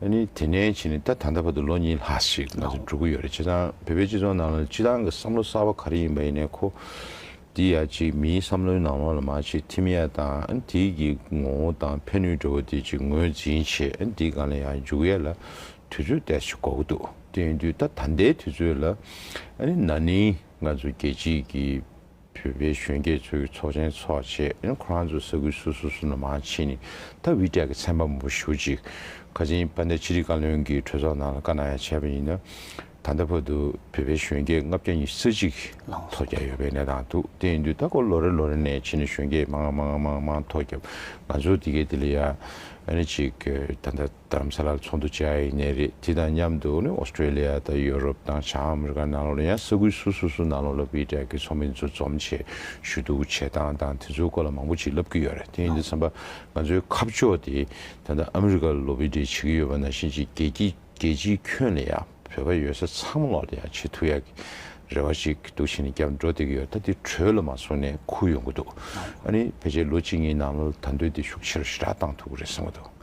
ཨ་ནི་དེ་ནས་ཕྱིན་ནས་ད་ད་ལྟ་བར་དུ་ལོ་གཉིས་ལྷག་ཞིག་ང་ཚོ་འགྲོ་གི་ཡོད་རེད་བྱས་ཙང་བོད་པའི་སྤྱི་ཚོགས་ནང་ལ་སྤྱི་བཏང་གི་བསམ་བློ་གསར་བ་ག་རེ་ཡིན་པ་ཡིན་ནའི་ཁོ། འདི་ཡ་གཅིག་མིའི་བསམ་བློའི་ནང་ལོག་ལ་མ་ཕྱི་ཐིམ་ཡ་དང་ཨ་འདི་གི་ངོ་བོ་དང་ཕན་ནུས་འགྲོ་བ་འདི་གཅིག་ངོས་འཛིན་བྱེད་ཨ་འདི་གང་ལ་ཡང་འཇུག་ཡ་ལ་དུས་ཚོད་དལ་ཞིག་འགོར་གི་འདུག་དེ་ཡིན་དུས་ད་ད་ལྟའི་དུས་ཚོད་ལ་ཨ་ནི་ན་ནིང་ང་ཚོ་རྒྱལ་སྤྱིས་ཀྱི། བོད་པའི་གཞོན་སྐྱེས་ཚོ་གི་ཚོགས་ཆེན་ཚོགས་ཆེད་ཁོ་རང་ཚོ་ས་ཁུལ་སོ་སོ་སོ་ནས་མང་ཕྱིན་ནས་ད་བྷི་ཀྲ་གི་ཚན་པ་མང་པོ་ཞུ་ཅིག་ཁ་ཆེན་པ་འདས་ཕྱི་དྲིལ་བཀའ་བློན་གྱི་གྲོས་ཚོགས་ནང་ལ་བཀའ་གནང་ཡ་བྱས་པ་ཡིན་ན་ད་ལྟ་བར་དུ་བོད་པའི་གཞོན་སྐྱེས་ལྔ་བརྒྱ་ཉི་ས་གཅིག་ཐོ་བརྒྱ་ཡོད་པའི་གནས་སྟངས་འདུག་དེ་ཡིན་དུས་ད་སྐོར་ལོ་རེ་ལོ་རེ་ནས་ཕྱིན་ནས་གཞོན་སྐྱེས་མང་མང་མང་མང་མང་ཐོ་བརྒྱབ་ང་ཚོ་དེ་གས་དེ་ལ་ཡ་ནི་ཅིག་ད་ལྟ། དར་མ་ས་ལར་ཚོགས་འདུ་བཅས་ཨ་ཡིག་ནས་རེད་དེ་དང་མཉམ་དུ་ཨོ་སྟྲེ་ལི་ཡ་དང་ཡོ་རོབ་དང་བྱང་ཨ་མི་རི་ཀ་ནང་ལོགས་ནས་ཡང་ས་ཁུལ་སོ་སོ་སུ་ནང་ལོགས་སློབ་གྲྭའི་གྲས་ཀྱི་ཚོགས་མི་ཚོ་འཛོམས་ཆེད་ཞུ་གཏུག་བྱེད་སྟངས་དང་དེ་ཚོའི་སྐོར་ལ་མང་པོ་ཅིག་ལབ་ཀྱི་ཡོད་རེད་དེ་ཡིན་དུས་བསམ་པ་ང་ཚོའི་ཁ་ཕྱོགས་དེ་ད་ལྟ་ཨ་མི་རི་ཀ་ལ་ལོ་བི་འབྲེལ་བྱེད་ཀྱི་ཡོད་པ་ནང་བཞིན་ཅིག་རྒྱལ་སྤྱིའི་ཁྱོན་ལས་ཡང་བོད་པ་ཡོད་ས་ཚང་མ་ལོགས་ལ་ཡང་ཆེས་ཐུགས་ཡག་གི་རེ་བ་ཅིག་གཏུག་བྱེད་ནས་བསྐྱར་འགྲོ་བསྡད་ཀྱི་ཡོད་ད་དེ་གྲོས་ལ་མ་སོང་ནས་ཁུར་ཡོང་གི་འདུག་ཨ་རི་ཕལ་ཆེར་ལོ་གཅིག་གཉིས་ནང་ལ་ད་འདོད་དེ་ཤུགས་ཆེ་རུ་ཞི་དྲག་བཏང་ཐུབ་ཀྱི་རེད་བསམ་གྱི་འདུག།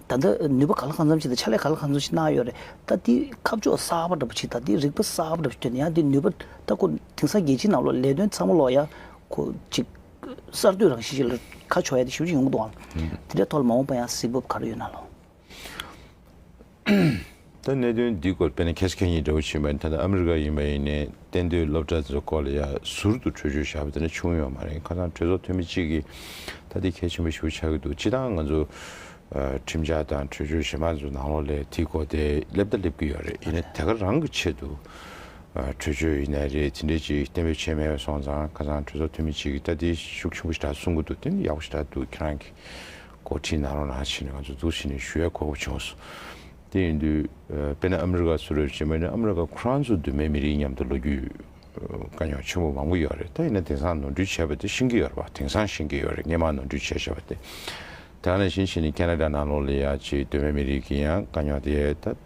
ད་ལྟ་ནུས་པ་ག་ལ་གང་འཚམ་ཞིག་དང་ཕྱག་ལས་ག་ལ་གང་འཚམ་ཞིག་གནང་ཡོད་རེད་ད་དེ་ཁ་ཕྱོགས་གསར་པ་འདྲ་པོ་ཞིག་དང་དེ་རིག་པ་གསར་པ་འདྲ་པོ་ཞིག་ཐོན་ཡང་དེ་ནུས་པ་ད་ཁོ་དེང་སང་རྒྱལ་སྤྱིའི་ནང་ལོག་ལས་དོན་ཚང་མ་ལོག་ཡང་ཁོ་ཅིག་གསར་གཏོད་རང་བཞིན་ཞིག་ལ་ཁ་ཕྱོགས་ཡ་དེ་ཞིབ་ཅིག་ཡོང་གི་འདུག་ཨང། དེ་འདྲའི་ཐོག་ལ་མ་འོངས་པ་ཡང་གཟིགས་བབ་ག་རེ་ཡོད་ན་ལོ། ད་གནད་དོན་འདིའི་སྐོར་དཔེར་ན་ཁེ་སི་ཁེན་གཉིས་འདྲ་བོ་བྱིན་པ་ནི་ད་ལྟ་ཨ་མི་རི་ཀ་ཡིན་པ་ཡིན་ནས་གཏན་སྡོད་སློབ་གྲྭ་ཚོའི་སྐོར་ལ་ཡ་ཟུར་དུ་གྲོས་ཆོད་བཞག་པ་དེ་འདྲ་བྱུང་ཡོད་མ་རེད་ཁ་སང་གྲོས་ཚོགས་འཐུས་མི་གཅིག་གིས་ད་དེ་གལ་ཆེན་པོ་ཞིག་པོ་ཆགས་ཀྱི་འདུག་སྤྱི་སྟངས་ང་ཚོ་ཁྲིམས་འཆར་དང་གྲོས་ཆོད་གཞན་པ་ཚོ་ནང་ལོགས་ལས་དེའི་སྐོར་དེ་སླེབས་ད་སླེབས་ཀྱི་ཡོད་རེད་ཡིན་ན་དེ་ག་རང་གི་ཆེད་དུ་གྲོས་ཆོད་ཡིན་ནའི་རེད་དེ་འདྲའི་ཅིག་གཏན་འབེབས་བྱས་མེད་པ་སོང་ཙང་ཁ་སང་གྲོས་ཚོགས་འཐུས་མི་གཅིག་གིས་ད་དེ་ཤུགས་ཆེན་པོ་ཞིག་གྲགས་གསུང་གི་འདུག་དེ་ནི་ཡག་པོ་ཞིག་གྲགས་འདུག་ཁྱེད་རང་གིས། འགོ་ཁྲིད་ནང་རང་རང་ཕྱིན་ནས་ང་ཚོ་འཛུགས་ཕྱིན་ནས་ཞུ་ཡ་གོ་བབ་བྱུང་སོང། དེ་ཡིན་དུས་དཔེར་ན་ཨ་མི་རི་ཀ་སུ་རེད་ཅེས་སྨྲས་ན་ཨ་མི་རི་ཀ་ཁོ་རང་ཚོ་དུ་མའི་མི་རིགས་མཉམ་དུ་ལོ་རྒྱུས་དཀའ་རྙོག་ཆེན་པོ་མང་པོ་ཡོད་རེད་ད་ཡིན་ན་དེང་སང་ནོར་འཁྲུལ་བྱས་པ་དེ་ཤིན་གི་ཡོད་རེད་བ་དེང་སང་ཤིན་གི་ཡོད་རེད་སྔས་མ་ནོར་འཁྲུལ་བྱས་བྱས་པ་དེ། དེ་ག་ནས་ཤིན་ཕྱིན་ནས་ཀན་ན་རྡ་ནང་ལོག་ལས་ཡ་ཅེས་དུ་མའི་མི་རིགས་ཀྱི་ཡང་དཀའ་རྙོག་དེ་ཡོད་ད།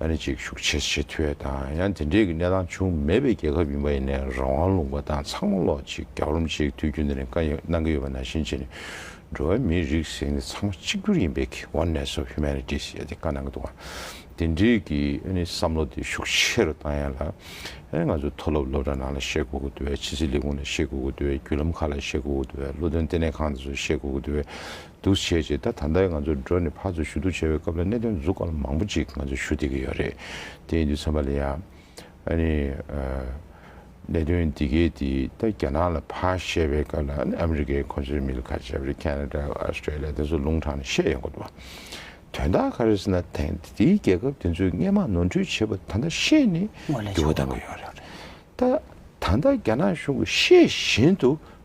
ཨ་རི་བཅས་ཤུགས་ཆེ་ཆེ་ཐོས་དང་ཡང་དེ་འདྲའི་གི་གནས་སྟངས་བྱུང་མེད་པའི་རྒྱལ་ཁབ་ཡིན་པ་ཡིན་ནའི་རང་དབང་ལུང་པ་དང་ཚང་མ་ལོག་ཅིག་རྒྱབ་རོམ་ཅིག་དུས་རྒྱུན་དེ་རིང་ཀ་གནང་གི་ཡོད་པ་ནང་བཞིན་བྱས་ནས་འགྲོ་བའི་མིའི་རིགས་ཟེར་ནི་ཚང་མ་གཅིག་གྱུར་ཡིན་པའི་གི Oneness of Humanities ཞེས་དེ་ཀ་གནང་གི་འདུག་ཨ་དེ་འདྲའི་གི་ཨ་ནི་བསམ་བློ་དེ་ཤུགས་ཆེ་རུ་བཏང་ཡང་ལ་ཨ་ནི་ང་ཚོའི་མཐོ་སློབ་སློབ་གྲྭ་ནང་ལ་བཤད་དགོས་གི་འདུག་བས་ཕྱི་སྲིད་ལས་ཁུངས་ལ་བཤད་དགོས་གི་འདུག་བས་བརྒྱུད་ལམ་ཁག་ལ་བཤད་དགོས་གི་འདུག་བས་བློ་འདོན་ལྟེ་གནས་ཁང་དེ་ཚོར་བཤད་དགོས་གི་འདུག་བས་འདུ་བྱེད་ཅིག་ད་ད་ལྟའི་ང་ཚོ་འགྲོ་ནས་ཕར་ཚུར་ཞུ་གཏུག་བྱ་བའི་སྐབས་ལ་གནད་དོན་འཛུགས་སྐར་མང་པོ་ཅིག་ང་ཚོ་ཞུ་བསྡད་ཀྱི་ཡོད་རེད་དེ་ཡིན་དུས་ཚང་མ་ལ་ཡང། ཨ་ནི། གནད་དོན་འདི་གས་དེ་ད་རྒྱ་ནག་ལ་ཕར་བཤད་པའི་སྐབས་ལ་ཨ་ནི་ཨ་མི་རི་ཀའི་ཁོང་ཚོའི་མི་ལ་ཁ་ཆེ་བ་རེད་ཁེ་ན་རྡ་ཨོ་སི་ཀྲེ་ལི་ཡ་དེ་ཚོ་ལུང་དྲངས་ནས་བཤད་ཡོང་གི་འདུག་དོན་དག་ག་རེ་ཟེར་ན་དེང་དུས་རྒྱལ་ཁབ་དེ་ཚོས་སྔས་མ་ནོར་འཁྲུལ་བྱེད་པ་ད་ལྟ་ཤེས་ནས་འགྱུར་བ་བཏང་གི་ཡོད་རེད་ད། ད་ལྟ་རྒྱ་ནག་གཞུང་གིས་ཤེས་བཞིན་དུ་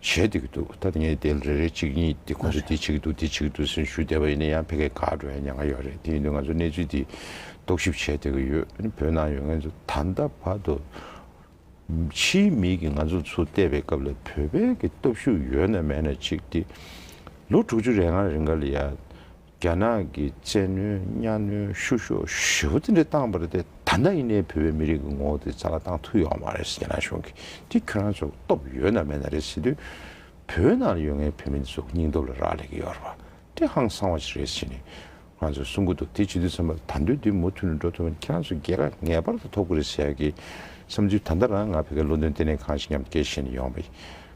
བྱེད་བསྡད་ཀྱི་འདུག་ད་ངས་དེ་རེ་རེ་གཅིག་གཉིས་དེ་ཁོང་ཚོས་དེ་བྱེད་ཀྱི་འདུག་དེ་བྱེད་ཀྱི་འདུག་ཟེར་ཞུ་བསྡད་པ་ཡིན་ན་ཡང་ཕལ་སྐད་ག་འགྲོ་ཡང་ཉག་ང་ཡོད་རེད་དེ་ཡིན་དུས་ང་ཚོས་གནས་ཚུལ་འདི་རྟོག་ཞིབ་བྱས་བསྡད་ཀྱི་ཡོད་བོད་ནང་ཡོད་ངན་ཚོས་ད་ལྟ་བར་དུ་ཕྱིའི་མིས་ཀྱི་ང་ཚོ་ཚུར་བལྟས་པའི་སྐབས་ལ་བོད་པའི་ཀྱི་སྟོབས་ཤུགས་ཡོད་ན་མེད་ན་གཅིག་དེ་ལོ་དྲུག་ཅུ་རེ་ལྔ་རེ་འགའ་ལ་ཡ་རྒྱ་ནག་གི་བཙན་གནོན་གཉའ་གནོན་བཤུ་གཞོག་ཞི་བ་དེ་འདྲ་བཏང་པར་དེ་ད་ནངས་ཡིན་ནའི་བོད་པའི་མི་རིགས་ཀྱི་ངོ་བོ་དེ་རྩ་བ་བཏང་ཐུབ་ཡོང་མ་རེད་རྒྱ་ནག་གཞུང་གིས་དེ་ཁྱོད་རང་ཚོ་སྟོབས་ཡོད་ན་མེད་ན་རེད་ཟེར་དུས། བོད་ནང་ལ་ཡོད་ངའི་བོད་མི་འདི་ཚོ་སྙིང་སྟོབས་ལ་རག་ལས་ཀྱི་ཡོད་རེད་པ་དེ་ཧང་སང་བ་ཞིག་རེད་ཟེར་ནས་ང་ཚོ་གསུང་གི་འདུག་དེ་བྱེད་དུས་བསམ་པ་ད་འདོད་དེ་མུ་མཐུད་ནས་འགྲོ་ཐུབ་ན་ཁྱེད་རང་ཚོ་རྒྱལ་ཁ་ངེས་པར་དུ་ཐོབ་ཀྱི་རེད་ཟེར་ཡག་གི་བསམ་ཚུལ་ད་ལྟ་རང་ང་བོད་སྐད་བློ་འདོན་ལྟེ་གནས་ཁང་ཞིག་མཉམ་དུ་སྐྱེལ་བཞིན་ཡོང་བ་ཡིན།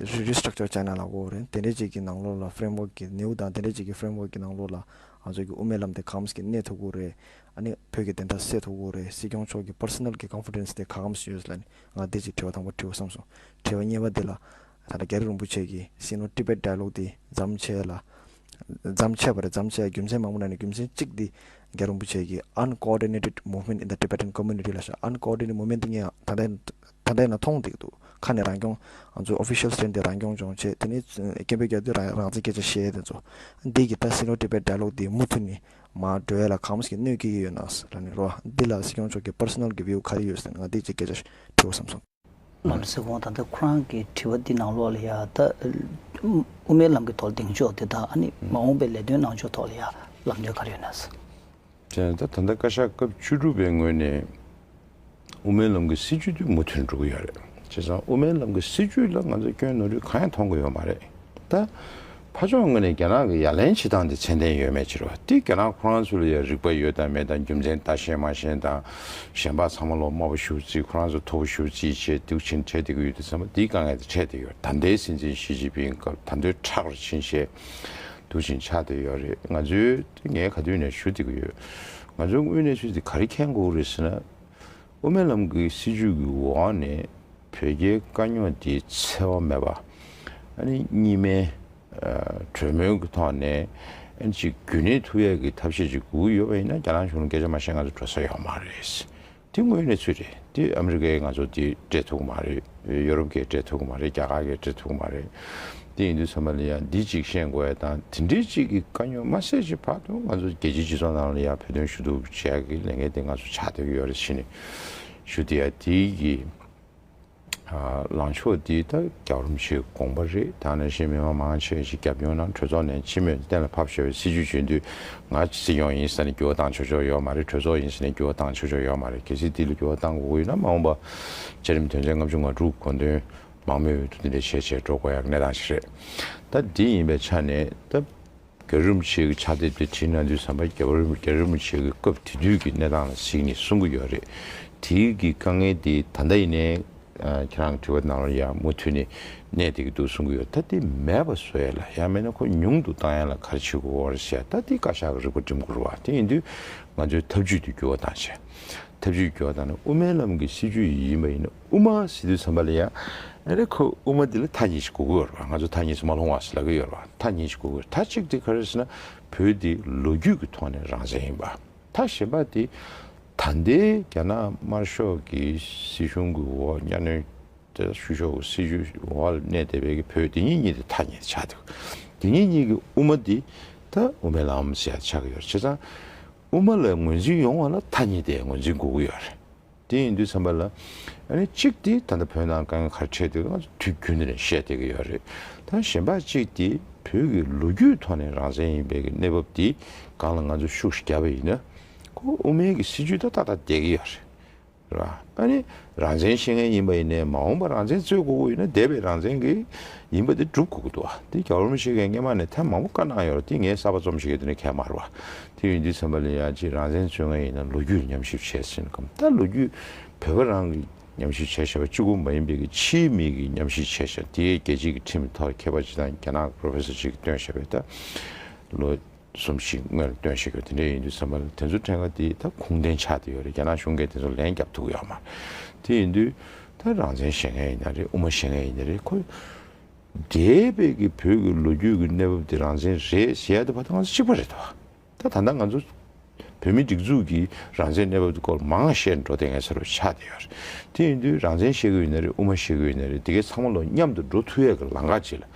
རེ་རེའི Structure བྱས་ནས་ལ་བོར་བ་རེད། དེ་འདྲའི་ཅིག་གི་ནང་ལོགས་ལ Framework གི་ནེའུ་དང་དེ་འདྲའི་ཅིག་གི Framework གི་ནང་ལོགས་ལ་ང་ཚོ་གི་དབུ་མའི་ལམ་དེ་གང་མཚམས་ཀྱི་གནས་ཐུབ་ཁུག་རེད། ཨ་ནི་བོད་ཀྱི་བདེན་མཐའ་སེལ་ཐུབ་ཁུག་རེད་སྲིད་སྐྱོང་མཆོག་གི Personal གི Confidence དེ་གང་མཚམས་སུ་ཡོད་ལ་ནི་ང་འདིར་ཅིག་དྲི་བ་དང་པོ་དྲིས་འོ་བསམ་སོང། དྲི་བ་གཉིས་པ་འདི་ལ། ད་ལྟ་རྒྱ་རི་རིན་པོ་ཆེ་གི Sino Tibet Dialogue འདི་བརྩམས་བྱས་ལ། བརྩམས་བྱས་པ་རེད་བརྩམས་བྱས་རྒྱུ་མཚན་མང་པོ་ནང་ནས་རྒྱུ་མཚན་གཅིག་འདི་རྒྱ་རིན་པོ་ཆེ་གི Uncoordinated Movement in the Tibetan Community ལ་བཞག Uncoordinated Movement དེ་ངས་ད་ལྟའི་ད་ལྟའི་ན་མཐོང་འདེགས་འདུག་ཁ་ནས་རང་སྐྱོང། ང་ཚོའི official stand དེ་རང་སྐྱོང་ལྗོངས་བྱེད་དེ་ནི་སྐད་འབོད་རྒྱག་དུས་རང་བཙན་སྐད་ཆ་བཤད་ཡས་དེ་ཚོ། འདི་གི་ད་སི་ནོ་ཏི་པའི་འདྲ་ལོག་འདི་མུ་ཐུ་ནི་མ་འགྲོ་ཡས་ལ་གང་མོས་ཀྱི་གནོད་སྐྱེལ་གྱི་ཡོད་ནའ་ས་ར་ནི་རོ་འདི་ལ་སི་སྐྱོང་མཆོག་གི personal གི view ག་རེ་ཡོད་ཟེར་ན་ང་འདི་གཅིག་སྐད་ཆ་དྲིའོ་བསམ་སོང། ང་ལ་ཟེར་གོང་ད་ལྟ་ཁོ་རང་གི་དྲི་བ་འདི་ནང་ལོགས་ལ་ཡ་ད་དབུ་མའི་ལམ་གི་ཐོག་ལ་འདེང་ཕྱོགས་དེ་དང་ཨ་ནི་མ་འོངས་པའི་ལས་དོན་གནང་ཕྱོགས་ཐོག་ལ་ཡ་ལམ་སྟོན་ག་རེ་ཡོད་ནའ་ས། ད་ལྟ་བཀའ་ཤག་སྐབས་བཅུ་དྲུག་པའི་ངོས་ནས་དབུ་མའི་ལམ་གྱི་སྲིད་བྱུས་དེ་མུ་མཐུད་འགྲོ་གི་ཡོད་རེད། བྱས་ཙང་དབུ་མའི་ལམ་གྱི་སྲིད་བྱུས་ལ་ང་ཚོས་སྐྱོན་ནོར་རིགས་གང་ཡང་མཐོང་གི་ཡོད་མ་རེད། ད་ཕ་ཕྱོགས་ངོས་ནས་རྒྱ་ནག་གི་ཡ་ལན་བྱེད་སྟངས་དེ་ཚད་ལྡན་ཡོད་མེད་ཕྱིར་རོ། དེ་རྒྱ་ནག་ཁོ་རང་ཚོ་ལ་ཡང་རིག་པ་ཡོད་དང་མེད་དང་རྒྱུ་མཚན་ལྟ་ཤེས་མ་ཤེས་དང། གཞན་པ་ཚང་མ་ལོག་སྨྲ་པོ་ཞུ་རྩིས་ཁོ་རང་ཚོ་མཐོ་པོ་ཞུ་རྩིས་བྱས་སྡུག་ཆེན་འཕྲད་བསྡད་ཀྱི་ཡོད་དུས་ཚང་མ་དེའི་དཀའ་ངལ་དེ་འཕྲད་བསྡད་ཡོད་རེད་ད་ལྟའི་སྲིད་འཛིན་ཞི་ཅིན་ཕིང་སྐབས་ད་འདོད་ཁྲག་རེ་བྱིན་བྱས་སྡུག་ཆེན་ཆགས་བསྡད་ཡོད་རེད་ང་ཚོའི་དེ་ངས་ག་དུས་ནས་ཞུ་བསྡད་ཀྱི་ཡོད། ང་ཚོའི་དངོས་གནས་ཚུལ་དེ་ག་རེ་མཁྱེན་དགོས་རེད་ཟེར་ན། དབུ་མའི་ལམ་གྱི་སྲིད་བྱུས་ཀྱི་འོག་ནས་བོད་རྒྱའི་དཀའ་རྙོག་དེ་འཚེ་བ་མེད་པ། ཨ་ནི་གཉིས་སྨན། གྲོས་མོལ་གྱི་ཐོག་ནས་ཨ་ནི་ཅིག་རྒྱུན་གནས་ཐུབ་ཡས་ཀྱི་ཐབས་ཤེས་ཅིག་དགོས་ཀྱི་ཡོད་པ་ཡིན་ན་རྒྱ་ནག་གཞུང་ལ་སྐད་ཆ་མ་བཤད་ང་ཚོ་འགྲོ་ས་ཡོད་མ་རེད། དེ་དངོས་གནས་ཚུལ་རེད་དེ་ཨ་མི་རི་ཀའི་ང་ཚོ་དེ་སྤྲད་ཐུག་མ་རེད་ཡོ་རོབ་ཀས་སྤྲད་ཐུག་མ་རེད་རྒྱ་གར་གས་སྤྲད་ཐུག་མ་རེད་དེ་ཡིན་དུས་ཚང་མ་ལ་ཡང་འདི་གཅིག་ཤེས་དགོས་ཡ་དང་དེ་འདྲའི་གཅིག་གི་དཀའ་རྙོག་མ་སེལ་བྱེད་བར་དུ་ང་ཚོ་རྒྱལ་སྤྱིའི་སྤྱི་ཚོགས་ནང་ལ་ཡང་བོད་དོན་ཞུ་གཏུག་བྱེད་ཡ་གི་ལས་འགན་དེ་ང་ཚོ་བྱ་འདོད་ཡོད་རེད་ཕྱི་ནས་ཞུ་དེ་ཡ་དེའི་གི། ལངས་ཕྱོགས་འདི་ལྟར་རྒྱག་རུམ་ཞིག་དགོངས་པ་རེད་ད་ནས་བཞིན་མི་དམངས་མང་ཆེ་ཞིག་རྒྱབ་སྐྱོར་གནང་གྲོས་ཚོགས་ནས་ཕྱི་མོས་གཏན་ལ་ཕབ་ཞེས་པའི་སྲིད་ཇུས་བྱོན་དུས་ང་སྲིད་སྐྱོང་ཡིན་ས་ནས་འགྱུར་བ་བཏང་ཆོག་ཆོག་ཡོད་མ་རེད་གྲོས་ཚོགས་ཡིན་ས་ནས་འགྱུར་བ་བཏང་ཆོག་ཆོག་ཡོད་མ་རེད་གལ་སྲིད་འདི་ལ་འགྱུར་བ་བཏང་དགོས་མཁོ་ཡོད་ན་མ་འོངས་པ་བཅའ་རིམ་དོན་ཚན་ལྔ་བཅུ་ང་དྲུག་དགོངས་དོན་མང་མོས་འོས་བསྡུ་འདི་འདྲའི་བྱས་བྱས་འགྲོ་དགོས་ཡག་གནས་སྟངས་ཤིག་རེད་ད་འདི་ཡིན་པའི་ཆ་ནས་ད། རྒྱལ་རིན་པོ་ཆེ་གི་ཕྱག་དེབ་དེ་བྲིས་ན་དུས་བཟང་པ་རྒྱལ་རིན་པོ་ཆེ་གི་སྐབས་དེ་དུས་ཀྱི་གནས་སྟངས་ལ་གཟིགས་ནས་གསུང་གི་ཡོད་རེད། དེ་གི་དཀའ་ངལ་དེ་ད་ལྟ་ཡིན་ནའི་ཁྱེད་རང་དྲི་བ་གནང་རོགས་ཡ་མུ་མཐུད་ནས་གནས་དེ་གི་འདུག་གསུང་གི་ཡོད་ད་དེ་མེད་པ་བཟོ་ཡ་ལ་ཡ་མེད་ན་ཁོ་ཉུང་དུ་བཏང་ཡ་ལ་གར་བྱེད་དགོས་བར་བཤད་ད་དེ་བཀའ་ཤག་གི་རིག་པ་འགྲིམ་དགོས་རུ་བ་དེ་ཡིན་དུས་ང་ཚོའི་ཐབས་ཇུས་དེ་འགྱུར་བ་བཏང་བྱས་ཐབས་ཇུས་འགྱུར་བ་བཏང་ན་དབུ་མའི་ལམ་གི་སྲིད་ཇུས་ཡིན་པ་ཡིན་ན། དབུ་མ་ཞེས་དུས་ཚོད་མ་ལས་ཡག། ཨ་རེ་ཁོས་དབུ་མ་འདི་ལ་མཐའ་གཉིས་ཤིག་གོ་གི་ཡོད་རེད་པ་ང་ཚོ་མཐའ་གཉིས་སུ་མ་ལྷུང་བ་ཞིག་ལབ་གི་ཡོད་རེད་པ་མཐའ་གཉིས་ཤིག་གོ་གི་ཡོད་མཐའ་གཅིག་དེ་ག་རེ་ཞེ་ན་བོད་འདི་ལོ་རྒྱུས་ཀྱི་ཐོག་ནས་རང་བཙན་ཡིན་པ། མཐའ་གཞན་པ་དེ་ད་ལྟའི་རྒྱ་ནག་དམར་ཤོག་གི་སྲིད་གཞུང་གི་འོག་གཉའ་གནོན་བཤུ་གཞོག་གི་སྲིད་ཇུས་འོག་ལ་གནས་བསྡད་པའི་བོད་དེ་ཉིད་གཉིས་དེ་མཐའ་གཉིས་ཆགས་འདུག་དེ་གཉིས་གཉིས་ཀྱི་དབུ་མ་འདི་ད་དབུ་མའི་ལམ་ཞེས་ཆགས་གི་ཡོད་རེད་བྱས་ཙང་དབུ་མ་ལ་ངོས་འཛིན་ཡོང་བ་ལ་མཐའ་གཉིས་དེ་ངོས་འཛིན་དགོས་གི་ཡོད་རེད། དེ་ཡིན་དུས་ཚན་པ་ལ། གཅིག་དེ་ད་ལྟ་བོད་ནང་དཀའ་ངལ་ཁར་འཕྲད་དུས་ང་ཚོ་དུས་རྒྱུན་ནས་བཤད་བསྡད་ཀྱི་ཡོད་རེད། ད་གཞན་པ་གཅིག་དེ་བོད་ཀྱི་ལོ་རྒྱུས་ཐོག་ནས་རང་བཙན་ཡིན་པའི་གནས་བབ་དེ་སྒང་ལ་ང་ཚོ་ཤུགས་བརྒྱབ་པ་ཡིན་ན། ཁོ་དབུ་མའི་གི་སྲིད་ཇུས་ད་ལྟ་ལྟ་བསྡད་ཀྱི་ཡོད་རེད། རང་བཙན་ཤེས་མཁན་ཡིན་པ་ཡིན་ནས་མ་འོངས་པ་རང་བཙན་རྩོད་དགོས་དགོས་ཡིན་ན་འདས་པའི་རང་བཙན་གི་ཡིན་པ་དེ་སྒྲུབ་དགོས་ཀྱི་འདུག་དེ་རྒྱ་གར་མི་ཤེས་མཁན་སྔས་མ་ནས་ཐེངས་མང་པོ་བཀའ་གནང་ཡོད་རེད་དེ་ངས་གསར་པ་རྩོམ་བྱེད་ཀྱི་དུས་ནས་ཁལ་མར་བ། དེ་བས་འདི་ཚན་པ་ལས་ཡག་ཅིག་རང་བཙན་རྩོད་མཁན་ཡིན་ན་ལོ་རྒྱུས་ལ་ཉམས་ཞིབ་བྱས་ཟིན་གམ་ད་ལོ་རྒྱུས་བོད་པ་རང་གི་ཉམས་ཞིབ་བྱས་ཞེས་པ་གཅིག་པུ་མ་ཡིན་པའི་གི་ཕྱིའི་མིག་གི་ཉམས་ཞིབ་བྱས་ཞེས་དེ་རྒྱལ་སྤྱི་གི་ཁྲིམས་ཐོག་མཁས་པ་ཅིག་དང་རྒྱ་ནག་གི Professor ཅིག་གིས་བཏོན་ཞེས་པའི་ད་ལོ་གསུམ་ཞིག་སྔོན་ལ་བཏོན་ཞེས་གི་བ་དེ་འདྲས་ཡིན་དུས་ཚན་པ་ལ་དེ་ཚོ་ཕྲན་ག་དེའི་ད་ཁུངས་ལྡན་ཆགས་ཏེ་ཡོད་རེད་རྒྱ་ནག་གཞུང་གིས་དེ་ཚོ་ལན་རྒྱབ་ཐུག་ཡོད་མ་རེད་དེ་ཡིན་དུས་ད་རང་བཙན་བྱེད་མཁན་ཡིན་ན་རེད་དབུ་མ་བྱེད་མཁན་ཡིན་ན་རེད་ཁོ་འདྲེས་པའི་གི་བོད་ཀྱི་ལོ་རྒྱུས་ཀྱི་གནས་བབ་དེ་རང་བཞིན་རེད་བཤད་ཡ་ད་བ་ད་ང་ཚོ་གཅིག་པ་རེད་དོ། ད་ད་ནང་ང་ཚོ་བོད་མི་སྒྲིག་འཛུགས་ཀྱི་རང་བཞིན་གནས་བབ་དེ་སྐོར་མང་བཤད་འགྲོ་དེ་ངའི་ཚ་རུ་ཆགས་བསྡད་ཡོད་རེད། དེ་ཡིན་དུས་རང་བཞིན་བཤད་གི་ཡོད་ན་རེད་དབུ་མ་བཤད་གི་ཡོད་ན་རེད་དེ་གས་ཚང་མ་ལོ་མཉམ་དུ་འགྲོ་ཐུ་ཡས་ཀྱི་ལང་ཀ་བྱེད་ལ།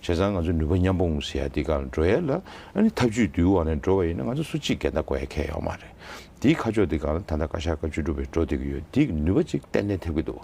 བྱས་ཙང་ང་ཚོ་ནུས་པ་མཉམ་པོ་ངུ་ཟེ་ཡ་དེ་ག་ལ་འགྲོ་ཡས་ལ་ཨ་ནི་ཐབས་བྱུས་དུས་དབང་ནས་འགྲོ་བ་ཡིན་ན་ང་ཚོ་སུ་གཅིག་འགལ་ཟླ་གོ་ཡས་ཁས་ཡོག་མ་རེད། དེའི་ཁ་ཕྱོགས་དེ་གང་ལ་ད་ད་བཀའ་ཤག་བཀའ་བཅུ་སྒྲུབ་པའི་འགྲོ་དེ་གི་ཡོད་དེ་གི་ནུས་པ་གཅིག་ཏན་ཏན་ཐེབས་ཀྱི་འདུག།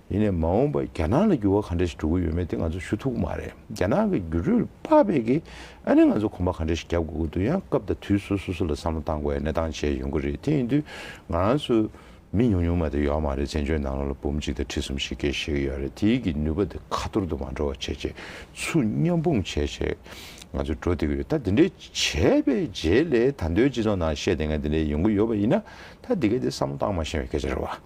ཡིན་ནས་མ་འོངས་པར་རྒྱ་ནག་ལ་འགྱུར་བ་ག་འདྲ་ཞིག་འགྲོ་གི་ཡོད་མེད་དེ་ང་ཚོ་ཞུ་ཐུབ་ཀྱི་མ་རེད། རྒྱ་ནག་གི་འགྱུར་འགྲོས་དཔག་པའི་གིས་ཨ་ནི་ང་ཚོ་གོམ་པ་ག་འདྲ་ཞིག་རྒྱག་དགོས་ཀྱི་འདུག་ཡང་སྐབས་དང་དུས་སུ་སོ་སོ་ལ་བསམ་བློ་གཏང་དགོས་པའི་གནས་སྟངས་བྱས་ཡོང་གི་རེད་དེ་ཡིན་དུས་ང་རང་ཚོའི་མི་ཉུང་ཉུང་མ་དེ་ཡོད་མ་རེད་བཙན་བྱོལ་ནང་ལོ་ལ་འབུམ་གཅིག་དང་ཁྲི་གསུམ་ཞིག་སྐྱེལ་ཤེས་ཀྱི་ཡོད་རེད་དེའི་གི་ནུས་པ་དེ་ཁ་ཐོར་དུ་མ་འགྲོ་བ་བྱས་རྗེས་སུ་མཉམ་སྤུངས་བྱས་བྱས་ང་ཚོ་འགྲོ་བདེ་གི་རེད་ད་དེ་འདྲའི་བྱས་པའི་རྗེས་ལས་ད་མདོའི་སྤྱི་ཚོགས་ནང་བཤད་དེ་ང་དེ་འདྲའི་ཡོང་གི་ཡོད་པ་ཡིན་ན་ད་དེ་ག་དེ་བསམ་བློ་གཏང་མ་ཤེས་པའི་སྐད་ཆ་རེད་བ།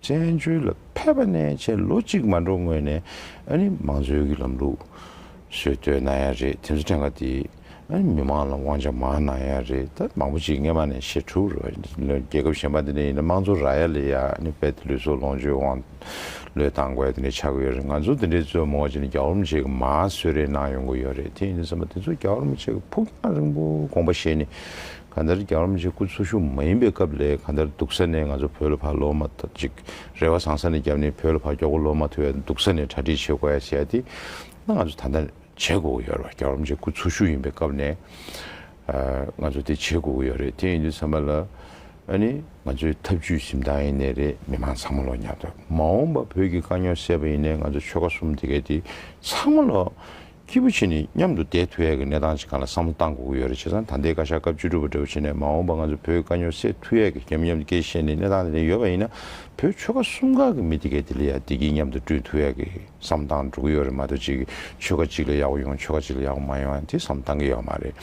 བཙན་བྱོལ་ལ་ཕེབས་པ་ནས་ཕྱིར་ལོ་གཅིག་མ་འགྲོ་སྔོན་ནས་མང་གཙོའི་གི་ལམ་ལུགས་སྲོལ་གཏོད་གནང་ཡ་རེད་དེ་ཚོ་ཕྲན་ག་དེ་མི་མང་ལ་དབང་ཆ་མང་གནང་ཡ་རེད་ད་མང་པོ་ཅིག་སྔས་མ་ནས་ཕྱིར་འཁྲུག་རོ་རྒྱལ་ཁབ་གཞན་པ་དེ་ནས་ཡིན་ན་དམངས་གཙོ་རག་ཡ་ལས་ཡ་བལ་དེ་ལུས་སྲོག་ལོངས་སྤྱོད་དབང་ལོས་བཏང་དགོས་ཡ་དེ་ནས་ཆག་གི་ཡོད་རེད་ང་ཚོ་དེ་འདྲའི་གཙོས་མོ་ཅི་ནས་རྒྱ་བོར་མི་བྱེད་གི་མ་གསོད་རེས་གནང་ཡོང་གི་ཡོད་རེད་དེ་ཡིན་ཟེར་མ་དེ་ཚོ་རྒྱ་བོར་མི་བྱེད་གི་ཕུགས་རྒྱང་རིང་པོ་དགོངས་པ་བཞེས་ནས་གང་ལྟར་རྒྱ་རོམ་གྱི་སྐུ་འཚོ་ཤུགས་མ་ཡིན་པའི་སྐབས་ལས་གང་ལྟར་སྡུག་ས་ནས་ང་ཚོ་བོད་ལ་ཕར་ལོག་མ་ཐག་ཅིག་རེ་བ་བཟང་ས་ནས་རྒྱབ་ནས་བོད་ལ་ཕར་མགྱོགས་པོ་ལོག་མ་ཐུབ་པའི་སྡུག་ས་ནས་གྲ་སྒྲིག་བྱེད་དགོས་ཡ་བྱེད་ཡ་དེ་ང་ཚོ་ད་ལྟ་བྱེད་དགོས་ཀྱི་ཡོད་རེད་རྒྱ་རོམ་གྱི་སྐུ་འཚོ་ཤུགས་ཡིན་པའི་སྐབས་ནས་ང་ཚོ་དེ་བྱེད་དགོས་ཀྱི་ཡོད་རེད་དེ་ཡིན་དུས་ཚང་མ་ལ་ཨ་ནི་ང་ཚོའི་ཐབས་བྱུས་གཟིམ་ཐང་ཡིན་ནའི་རེད་མི་མང་ཚང་མ་ལོ་ཉག་ཐོས་མ་འོངས་པ་བོད་ཀྱི་དཀའ་རྙོག་སེལ་བ་ཡིན་ནའི་ང་ཚོ་ཆོལ་ཁ་གསུམ་དེ་གའི་དེ་ཚང་མ་ལོ་ཁྱི་བུ་ཁྱེད་ནི་མཉམ་དུ་བསྡད་ཐུ་ཡ་གི་གནས་སྟངས་ཅི་གང་ལ་བསམ་བློ་བཏང་དགོས་ཀྱི་ཡོད་རེད་བྱས་ཙང་ད་ལྟའི་བཀའ་ཤག་སྐབས་བཅུ་དྲུག་པ་འདྲ་བོ་བྱས་ནས་མ་འོངས་པ་ང་ཚོ་བོད་དཀའ་རྙོག་སེལ་ཐུ་ཡ་གི་རྒྱབ་མཉམ་དུ་བསྐྱེལ་བཤད་ནི་གནས་སྟངས་དེ་རིང་ཡོད་པ་ཡིན་ན་བོད་ཆོལ་ཁ་གསུམ་ག་གི་མི་དེ་གའི་དེ་ལ་ཡ་བདེ་སྐྱིད་མཉམ་དུ་བསྐྲུན་ཐུ་ཡ་གི་བསམ་བཏང་འགྲོ་གི་ཡོད་རེད་མ་གཏོགས་གཅིག་གི་ཆོལ་ཁ་གཅིག་ལ་ཡག་པོ་ཡོང་ཆོལ་ཁ་གཅིག་ལ་ཡག་པོ་མ་ཡོང་དེ་བསམ་བཏང་གི་ཡོད་མ་རེད་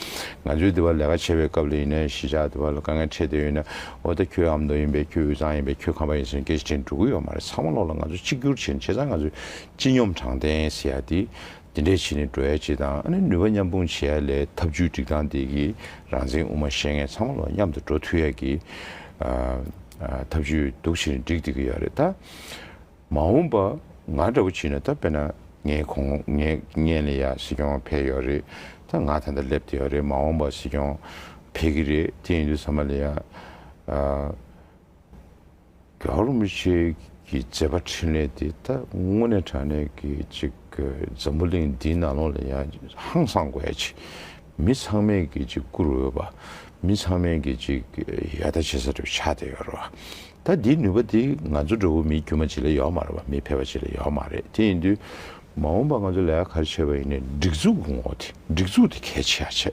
ང་ཚོའི་དེ་བ་ལས་ཀ་བྱས་པའི་སྐབས་ལ་ཡིན་ན་གཞིས་ཆགས་དེ་བ་ལ་དཀའ་ངལ་འཕྲད་བསྡད་ཡོད་ན་འོ་ད་ཁྱོད་ཨ་མདོ་ཡིན་པས་ཁྱོད་དབུས་གཙང་ཡིན་པས་ཁྱོད་ཁམས་པ་ཡིན་ཟེར་ནས་སྐད་ཆ་དྲན་འགྲོ་གི་ཡོད་མ་རེད་ཚང་མ་ལོག་ལ་ང་ཚོ་གཅིག་གྱུར་བྱས་ནས་བྱས་ཙང་ང་ཚོའི་སྤྱི་སྙོམས་དྲང་བདེན་ཟེར་ཡ་དེ། དེ་འདྲས་བྱེད་ནི་འགྲོ་ཡ་ཅི་དང་ཨ་ནི་ནུས་པ་མཉམ་སྤུངས་བྱེད་ཡ་ལས་ཐབས་ཇུས་སྒྲིག་སྟངས་དེ་གི་རང་མཚན་དབུ་མ་ཤེས་མཁན་ཚང་མ་ལོ་མཉམ་དུ་འགྲོ་ཐུ་ཡ་གི་ཐབས་ཇུས་སྡུག་བྱེད་ནི་སྒྲིག་བསྡིག་གི་ཡ་རེད་ད། མ་འོངས་པ་ང་འདྲ་བོ་བྱེད་ནི་ད་དཔེ་ན་ངའི་གོང་ངའི་མཉན་ལ་ཡ་སྲིད་སྐྱོང་འཕེལ་ཡོ་རེད་ད་ང་ད་ལྟ་སླེབས་ཐུ་ཡ་རེད་མ་འོངས་པ་སྲིད་སྐྱོང་འཕེལ་གི་རེད་དེ་ཡིན་དུས་ཟ་མ་ལ་ཡ། རྒྱ་གར་མི་ཆོས་ཀྱི་མཛད་པ་འཕྲིན་ལས་དེ་ད་དངོས་གནས་དྲ་གནས་ཀྱི་ཅིག་འཛམ་བུ་གླིང་འདིའི་ནགས་ཀློང་ལ་ཡང་ཧང་སངས་དགོས་ཡ་ཅིག་མི་ཚང་མས་ཀྱི་ཅིག་བཀུར་འོས་པ་མི་ཚང་མས་ཀྱི་ཅིག་ཡ་ད་བྱེད་ས་རེད་ཆགས་བསྡད་ཡོད་རེད་བ། ད་འདིའི་ནུས་པ་དེ་ང་ཚོ་འདྲ་བོ་མིའི་དཀྱུས་མ་ཅིག་ལས་ཡོག་མ་རེད་བ་མི་ཕལ་བ་ཅིག་ལས་ཡོག་མ་རེད་དེ་ཡིན་དུས་མ་འོངས་པ་ང་ཚོ་ལས་ཀ་ག་རེ་བྱེད་པ་ཡིན་ནས་སྒྲིག་འཛུགས་ངོ་ཐི་སྒྲིག་འཛུགས་དེ་གལ་ཆེ་ཡ་ཆེ།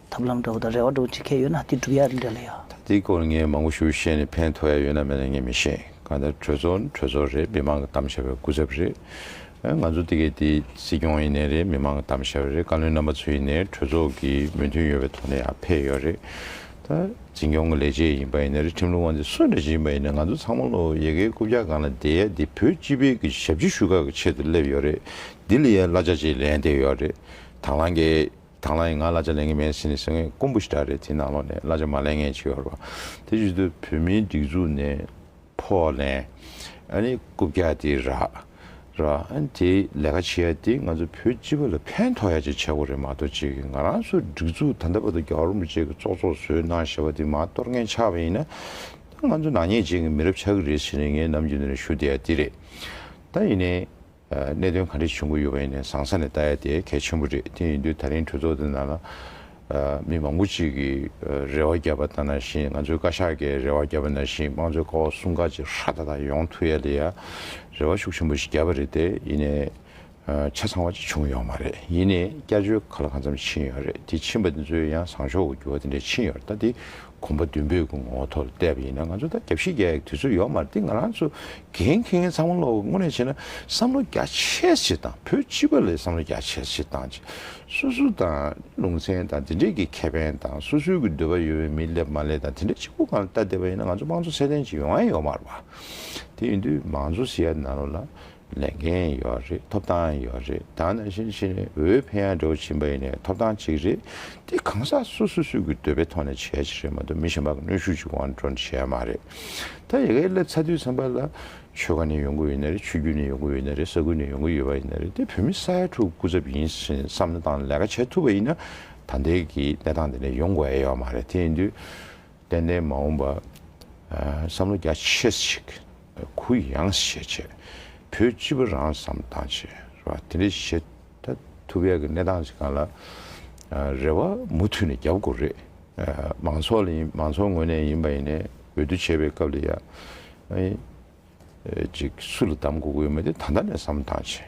ཐབས་ལམ་འདྲ་བོ་དང་རེ་བ་འདྲ་བོ་བྱེད་མཁན་ཡོད་ན་དེ་སྒྲུབ་ཡ་རེད་འདྲ་ལ་ཡ། ད་འདི་སྐོར་ངས་མང་པོ་ཞུ་ཤེས་ནས་ཕན་ཐོག་ཡ་ཡོད་ན་མེད་ན་ངས་མི་ཤེས་གང་ལྟར་གྲོས་ཚོགས་ནི་གྲོས་ཚོགས་རེད་མི་མང་གི་གཏམ་བཤད་པའི་སྐུ་ཚབ་རེད། ང་ཚོ་འདི་གའི་འདི་སྲིད་སྐྱོང་ཡིན་ནའི་རེད་མི་མང་གི་གཏམ་བཤད་པ་རེད་བཀའ་བློན་རྣམ་པ་ཚོ་ཡིན་ནའི་གྲོས་ཚོགས་ཀྱི་མོས་མཐུན་ཡོད་པའི་ཐོག་ནས་ཡ་ཕེབས་ཡོད་རེད། ད་འཛིན་སྐྱོང་གི་ལས་བྱེད་ཡིན་པ་ཡིན་ནའི་རེད་ཁྲིམས་ལུགས་དབང་ཚད་སུ་འདྲ་ཞིག་ཡིན་པ་ཡིན་ནའི་ང་ཚོ་ཚང་མ་བློ་ཡེ་གེའི་རྐུབ་བཀྱག་སྒང་ལ་བསྡད་ཡ་འདི་བོད་སྤྱི་བེད་ཀྱི་ཞབས་ཕྱི་ཞུ་ཁག་གི་ཆེད་དུ་སླེབས་ཡོད་རེད་འདི་ལ་ཡ་གླ་ཆ་ཅིག་ལེན་བསྡད་ཡོད་རེད་དྭང་བླངས་ཀྱི། དང་བླངས་ཡིན་ང་གླ་ཆ་ལེན་གི་མེད་ཟེར་ནས་ཟེར་ངེས་དཀོན་པོ་ཞིག་འདྲ་རེད་དེ་ནང་ལོག་ནས་གླ་ཆ་མ་ལེན་ངེས་བྱེད་ཡོད་རེད་བ་དེ་བཞིན་དུ་བོད་མིའི་སྒྲིག་འཛུགས་ནས་ཕོ་ལེན་ཨ་ནི་རྐུབ་བཀྱག་དེ་རགས་ར་ཨ་ནི་དེ་ལས་ཀ་བྱེད་ཡ་དེ་ང་ཚོ་བོད་སྤྱི་བ་ལ་ཕན་ཐོག་ཡ་ཅིག་བྱེད་དགོས་རེད་མ་གཏོགས་བྱེད་ཀྱི་ང་རང་ཚོའི་སྒྲིག་འཛུགས་ད་ལྟ་བར་དུ་རྒྱ་གར་རིན་པོ་ཆེ་གི་ཙོག་ཙོག་བཟོས་གནང་ཞེས་པ་དེ་མ་གཏོར་ངན་ཆགས་པ་ཡིན་ན་ད་ང་ཚོ་ནག་ཉེས་བྱེད་ཀྱི་མི་རབས་ཆགས་ཀྱི་རེད་ཟེར་ནས་ངས་ནམ་རྒྱུན་དེ་རིང་ཞུ་བསྡད་ཡ་དེ་རེད་ད་ཡིན་ནའི། གནད་དོན་ག་འདྲ་བྱུང་གི་ཡོད་པ་ཡིན་ནས་བཟང་ས་ནས་བལྟ་ཡ་དེ་གལ་ཆེན་པོ་རེད་དེ་ཡིན་དུས་ད་རིང་གྲོས་ཚོགས་འདི་ནང་ལ་མི་མང་པོ་གཅིག་གིས་རེ་བ་རྒྱབ་པ་ལྟ་ན་བཞིན་ང་ཚོའི་བཀའ་ཤག་གིས་རེ་བ་རྒྱབ་པ་ན་བཞིན་དམངས་གཙོའི་ཀ་བ་སྲུང་ཁག་ཅིག་ཧྲ་ཐག་ཐག་ཡོང་ཐུ་ཡ་ལེ་ཡ་རེ་བ་ཤུགས་ཆེན་པོ་ཞིག་རྒྱབ་པ་རེད་དེ་ཡིན་ནས་ཆ་ཚང་བ་ཅིག་བྱུང་ཡོད་མ་རེད་ཡིན་ནས་བསྐྱར་བཅོས་ག་ལ་གང་འཚམ་ཕྱིན་ཡོད་རེད་དེ་ཕྱིན་པ་དེ་ཚོའི་ཡང་བཟང་ཕྱོགས་འགྱུར་བ་དེ་འདྲ་ཕྱིན་ཡོད་རེད་ད་དེ་གོམ་པ་མདུན་སྤོས་ཀྱི་ངོ་ཐོག་ཏུ་བལྟས་པ་ཡིན་ན་ང་ཚོ་ད་རྒྱབ་ཤིང་རྒྱག་ཡག་དུས་ཚོད་ཡོད་མ་རེད་འདི་ང་རང་ཚོ་འགན་འཁྱེར་མཁན་ཚང་མ་བློ་དངོས་གནས་བྱས་ན་བསམ་བློ་རྒྱ་ཆེར་བྱེད་དང་བོད་སྤྱི་པ་ལས་བསམ་བློ་རྒྱ་ཆེར་བྱེད་དང་བྱེད་སོ་སོ་དང་ལུང་ཚན་དང་དེ་འདྲས་ཀྱི་ཁེ་ཕན་དང་སོ་སོའི་གི་འདོད་པ་ཡོད་པའི་མི་སླེབས་མ་སླེབས་དང་དེ་འདྲས་གཅིག་པུ་གང་ལ་བལྟ་བསྡད་པ་ཡིན་ན་ང་ཚོ་དམངས་གཙོ་ཚད་ལྡན་ཅིག་ཡོང་ཡང་ཡོང་མ་རུང་བ་དེ་ཡིན་དུས་མང་གཙོ་ཟེར་ཡ་ན་རུང་ལ་ལས་འགན་ཡོད་རེད་ཐོབ་ཐང་ཡོད་རེད་ད་ནང་བཞིན་ཕྱི་ནས་འོས་འཕེན་ཡག་འགྲོ་བཞིན་པ་ཡིན་ནའི་ཐོབ་ཐང་གཅིག་རེད་དེ་གང་ཟག་སོ་སོ་སུས་ཀྱི་འདོད་པའི་ཐོག་ནས་བྱས་ཀྱི་རེད་མ་གཏོགས་མི་གཞན་པ་གནོད་ཤུགས་ཀྱིས་དབང་སྒྲོན་བྱས་མ་རེད་ད་ཡི་གེ་སླེབས་ཚ་དུས་ཚང་པ་ལ་ཆོལ་ཁ་ནས་ཡོང་གི་ཡོད་ན་རེད་ཆོས་བརྒྱུད་ནས་ཡོང་གི་ཡོད་ན་རེད་ས་ཁུལ་ནས་ཡོང་གི་ཡོད་པ་ཡིན་ན་རེད་དེ་བོད་མི་ས་ཡ་དྲུག་སྐུ་ཚབ་ཡིན་ཕྱིན་བསམ་བློ་བཏང་ནས་ལས་ཀ་བྱས་ཐུབ་པ་ཡིན་ན་ད་ལྟའི་གི་གནས་སྟངས་འདི་ནས་ཡོང་དགོས་ཨེ་ཡོད་མ་རེད་དེ་ཡིན་དུས་ཏན་ཏན་མ་འོངས་པ་བསམ་བློ་རྒྱ་ཆེ་ཞིག་གུ་ཡངས་ཞེས་བྱ། བུ་གཅིག་པུ་རང་བསམ་བཏང་བྱས། རེ་བ་དེ་འདྲའི་བཞེད། ད་ཐུ་བྷའི་གནས་སྟངས་ཞིག་གང་ལ། རེ་བ་མུ་མཐུད་ནས་རྒྱབ་དགོས་རེད། མང་ཚོགས་ལ་ཡིན་མང་ཚོགས་ངོས་ནས་ཡིན་པ་ཡིན་ནས་འོས་བསྡུ་བྱེད་པའི་སྐབས་ལ་ཡ། ཅིག་སུ་ལ་གདམ་དགོས་དགོས་ཡོད་མེད་དེ་ད་ལྟ་ནས་བསམ་བཏང་བྱས།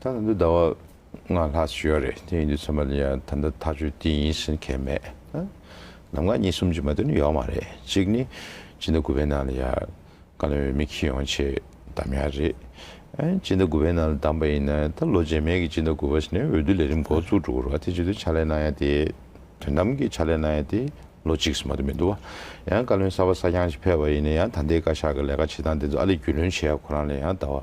ད་ནང་དུ་ཟླ་བ་ལྔ་ལྷག་ཅིག་ཡོད་རེད་དེ་ཡིན་དུས་ཚང་མ་ལ་ཡང་ད་ལྟ་ཐག་གཅོད་དེ་ཡིན་ཟེར་མཁན་མེད་ཨ། ནམ་མཁའ་གཉིས་གསུམ་ཅིག་མ་གཏོགས་ནི་ཡོད་མ་རེད་གཅིག་ནི་སྤྱི་ཟླ་དགུ་པའི་ནང་ལ་ཡང་བཀའ་བློན་འོས་མི་ཁྱི་ཡོང་ཆེད་བདམས་ཡག་རེད་ཨ། སྤྱི་ཟླ་དགུ་པའི་ནང་ལ་བདམས་པ་ཡིན་ན་ད་ལོ་རྗེས་མའི་གི་སྤྱི་ཟླ་དགུ་པ་ཞིག་ནས་འོས་བསྡུ་ལས་རིམ་འགོ་བཙུགས་འགྲོ་དགོས་རེད་ཨ་དེ་བྱེད་དུས་ཕྱག་ལས་གནང་ཡག་དེ་དོན་དམ་གི་ཕྱག་ལས་གནང་ཡག་དེ་ལོ་གཅིག་གསུམ་མ་གཏོགས་མི་འདུག་ཨ། ཡང་བཀའ་བློན་གསར་པ་གསར་རྐྱང་ཞིག་ཕེབས་པ་ཡིན་ན་ཡང་ད་ལྟའི་བཀའ་ཤག་གི་ལས་ཀ་བྱེད་སྟངས་དེ་ཚོ་ཨ་ལས་རྒྱུས་ལོན་བྱེད་ཡག་ཁོ་རང་ལ་ཡང་ད་བར་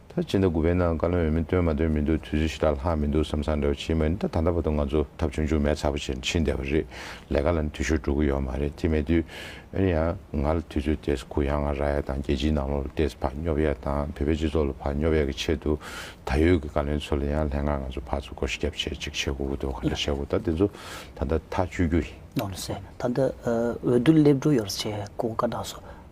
ད་སྤྱི་ཟླ་དགུ་པའི་ནང་བཀའ་བློན་འོས་མི་བཏོན་མ་འདོན་མི་འདུག་དུས་ཚོད་ཕྱི་ལ་ལྷག་མི་འདུག་བསམ་བསམ་འདྲ་བ་ཕྱིན་མ་ཡིན་ད་ད་ལྟ་བར་དུ་ང་ཚོ་ཐབས་ཆུང་ཆུང་མེད་ཚ་པོ་ཆེར་ཕྱིན་བསྡད་པ་རེད་ལས་ཀ་ལ་ནི་འཐུས་ཤོར་འགྲོ་གི་ཡོད་མ་རེད་དེ་མེད་དུས། འོན་ཡང་ང་ལ་དུས་ཚོད་དེས་གུ་ཡངས་ར་ཡལ་དང་རྒྱལ་སྤྱིའི་ནང་ལོགས་ལ་ལྟས་ཕག་སྙོབ་ཡས་དང་བོད་པའི་སྤྱི་ཚོགས་ལ་ཕག་སྙོབ་ཡས་ཀྱི་ཆེད་དུ་ད་ཡོད་ཀྱི་བཀའ་བློན་ཚོ་ལ་ཡང་ལྷན་ཁང་ང་ཚོ་ཕག་ཚོ་སྐོར་སྐྱབས་བྱེད་ཅིག་བྱེད་དགོས་ཀྱི་འདུག་གང་འདྲ་བྱེད་དགོས་ད་དེ་ཚོ་ད་ལྟ་ཐག་གཅོད་རྒྱུ་ཡིན། ནོར་ལྷ་སེ། ད་ལྟ་འོས་བསྡུ་སླེབས་འགྲོ་ཡོད་རེད་ཅེས་སྐུ་བཀའ་བཏང་སོང།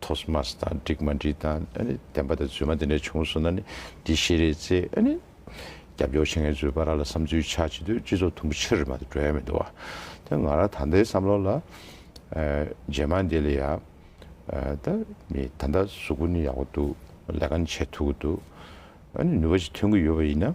ཐོས་མ་སྟ་འགྲིག་མ་འགྲིག་དང་བདེན་པ་དང་རྫུན་མ་དེ་འདྲ་བྱུང་སོང་ན་ནི་འདི་ཤེས་རེད་ཅེས་རྒྱབ་སྐྱོར་བྱེད་མཁན་ཚོའི་པ་ར་ལ་བསམ་ཚུལ་ཆགས་བྱེད་དུས་སྤྱི་ཚོགས་དུམ་བུ་ཕྱིར་མ་དེ་འགྲོ་ཡ་མི་འདུག་ད་ང་རང་ད་ལྟའི་བསམ་བློ་ལ་རྗེས་མ་འདི་ལ་ཡ་ད་མི་ད་ལྟ་གཟུགས་པོ་ནི་ཡག་པོ་འདུག་ལས་ཀ་ནི་བྱེད་ཐུབ་ཀྱི་འདུག་ནུས་པ་ཞིག་ཐོན་གྱི་ཡོད་པ་ཡིན་ན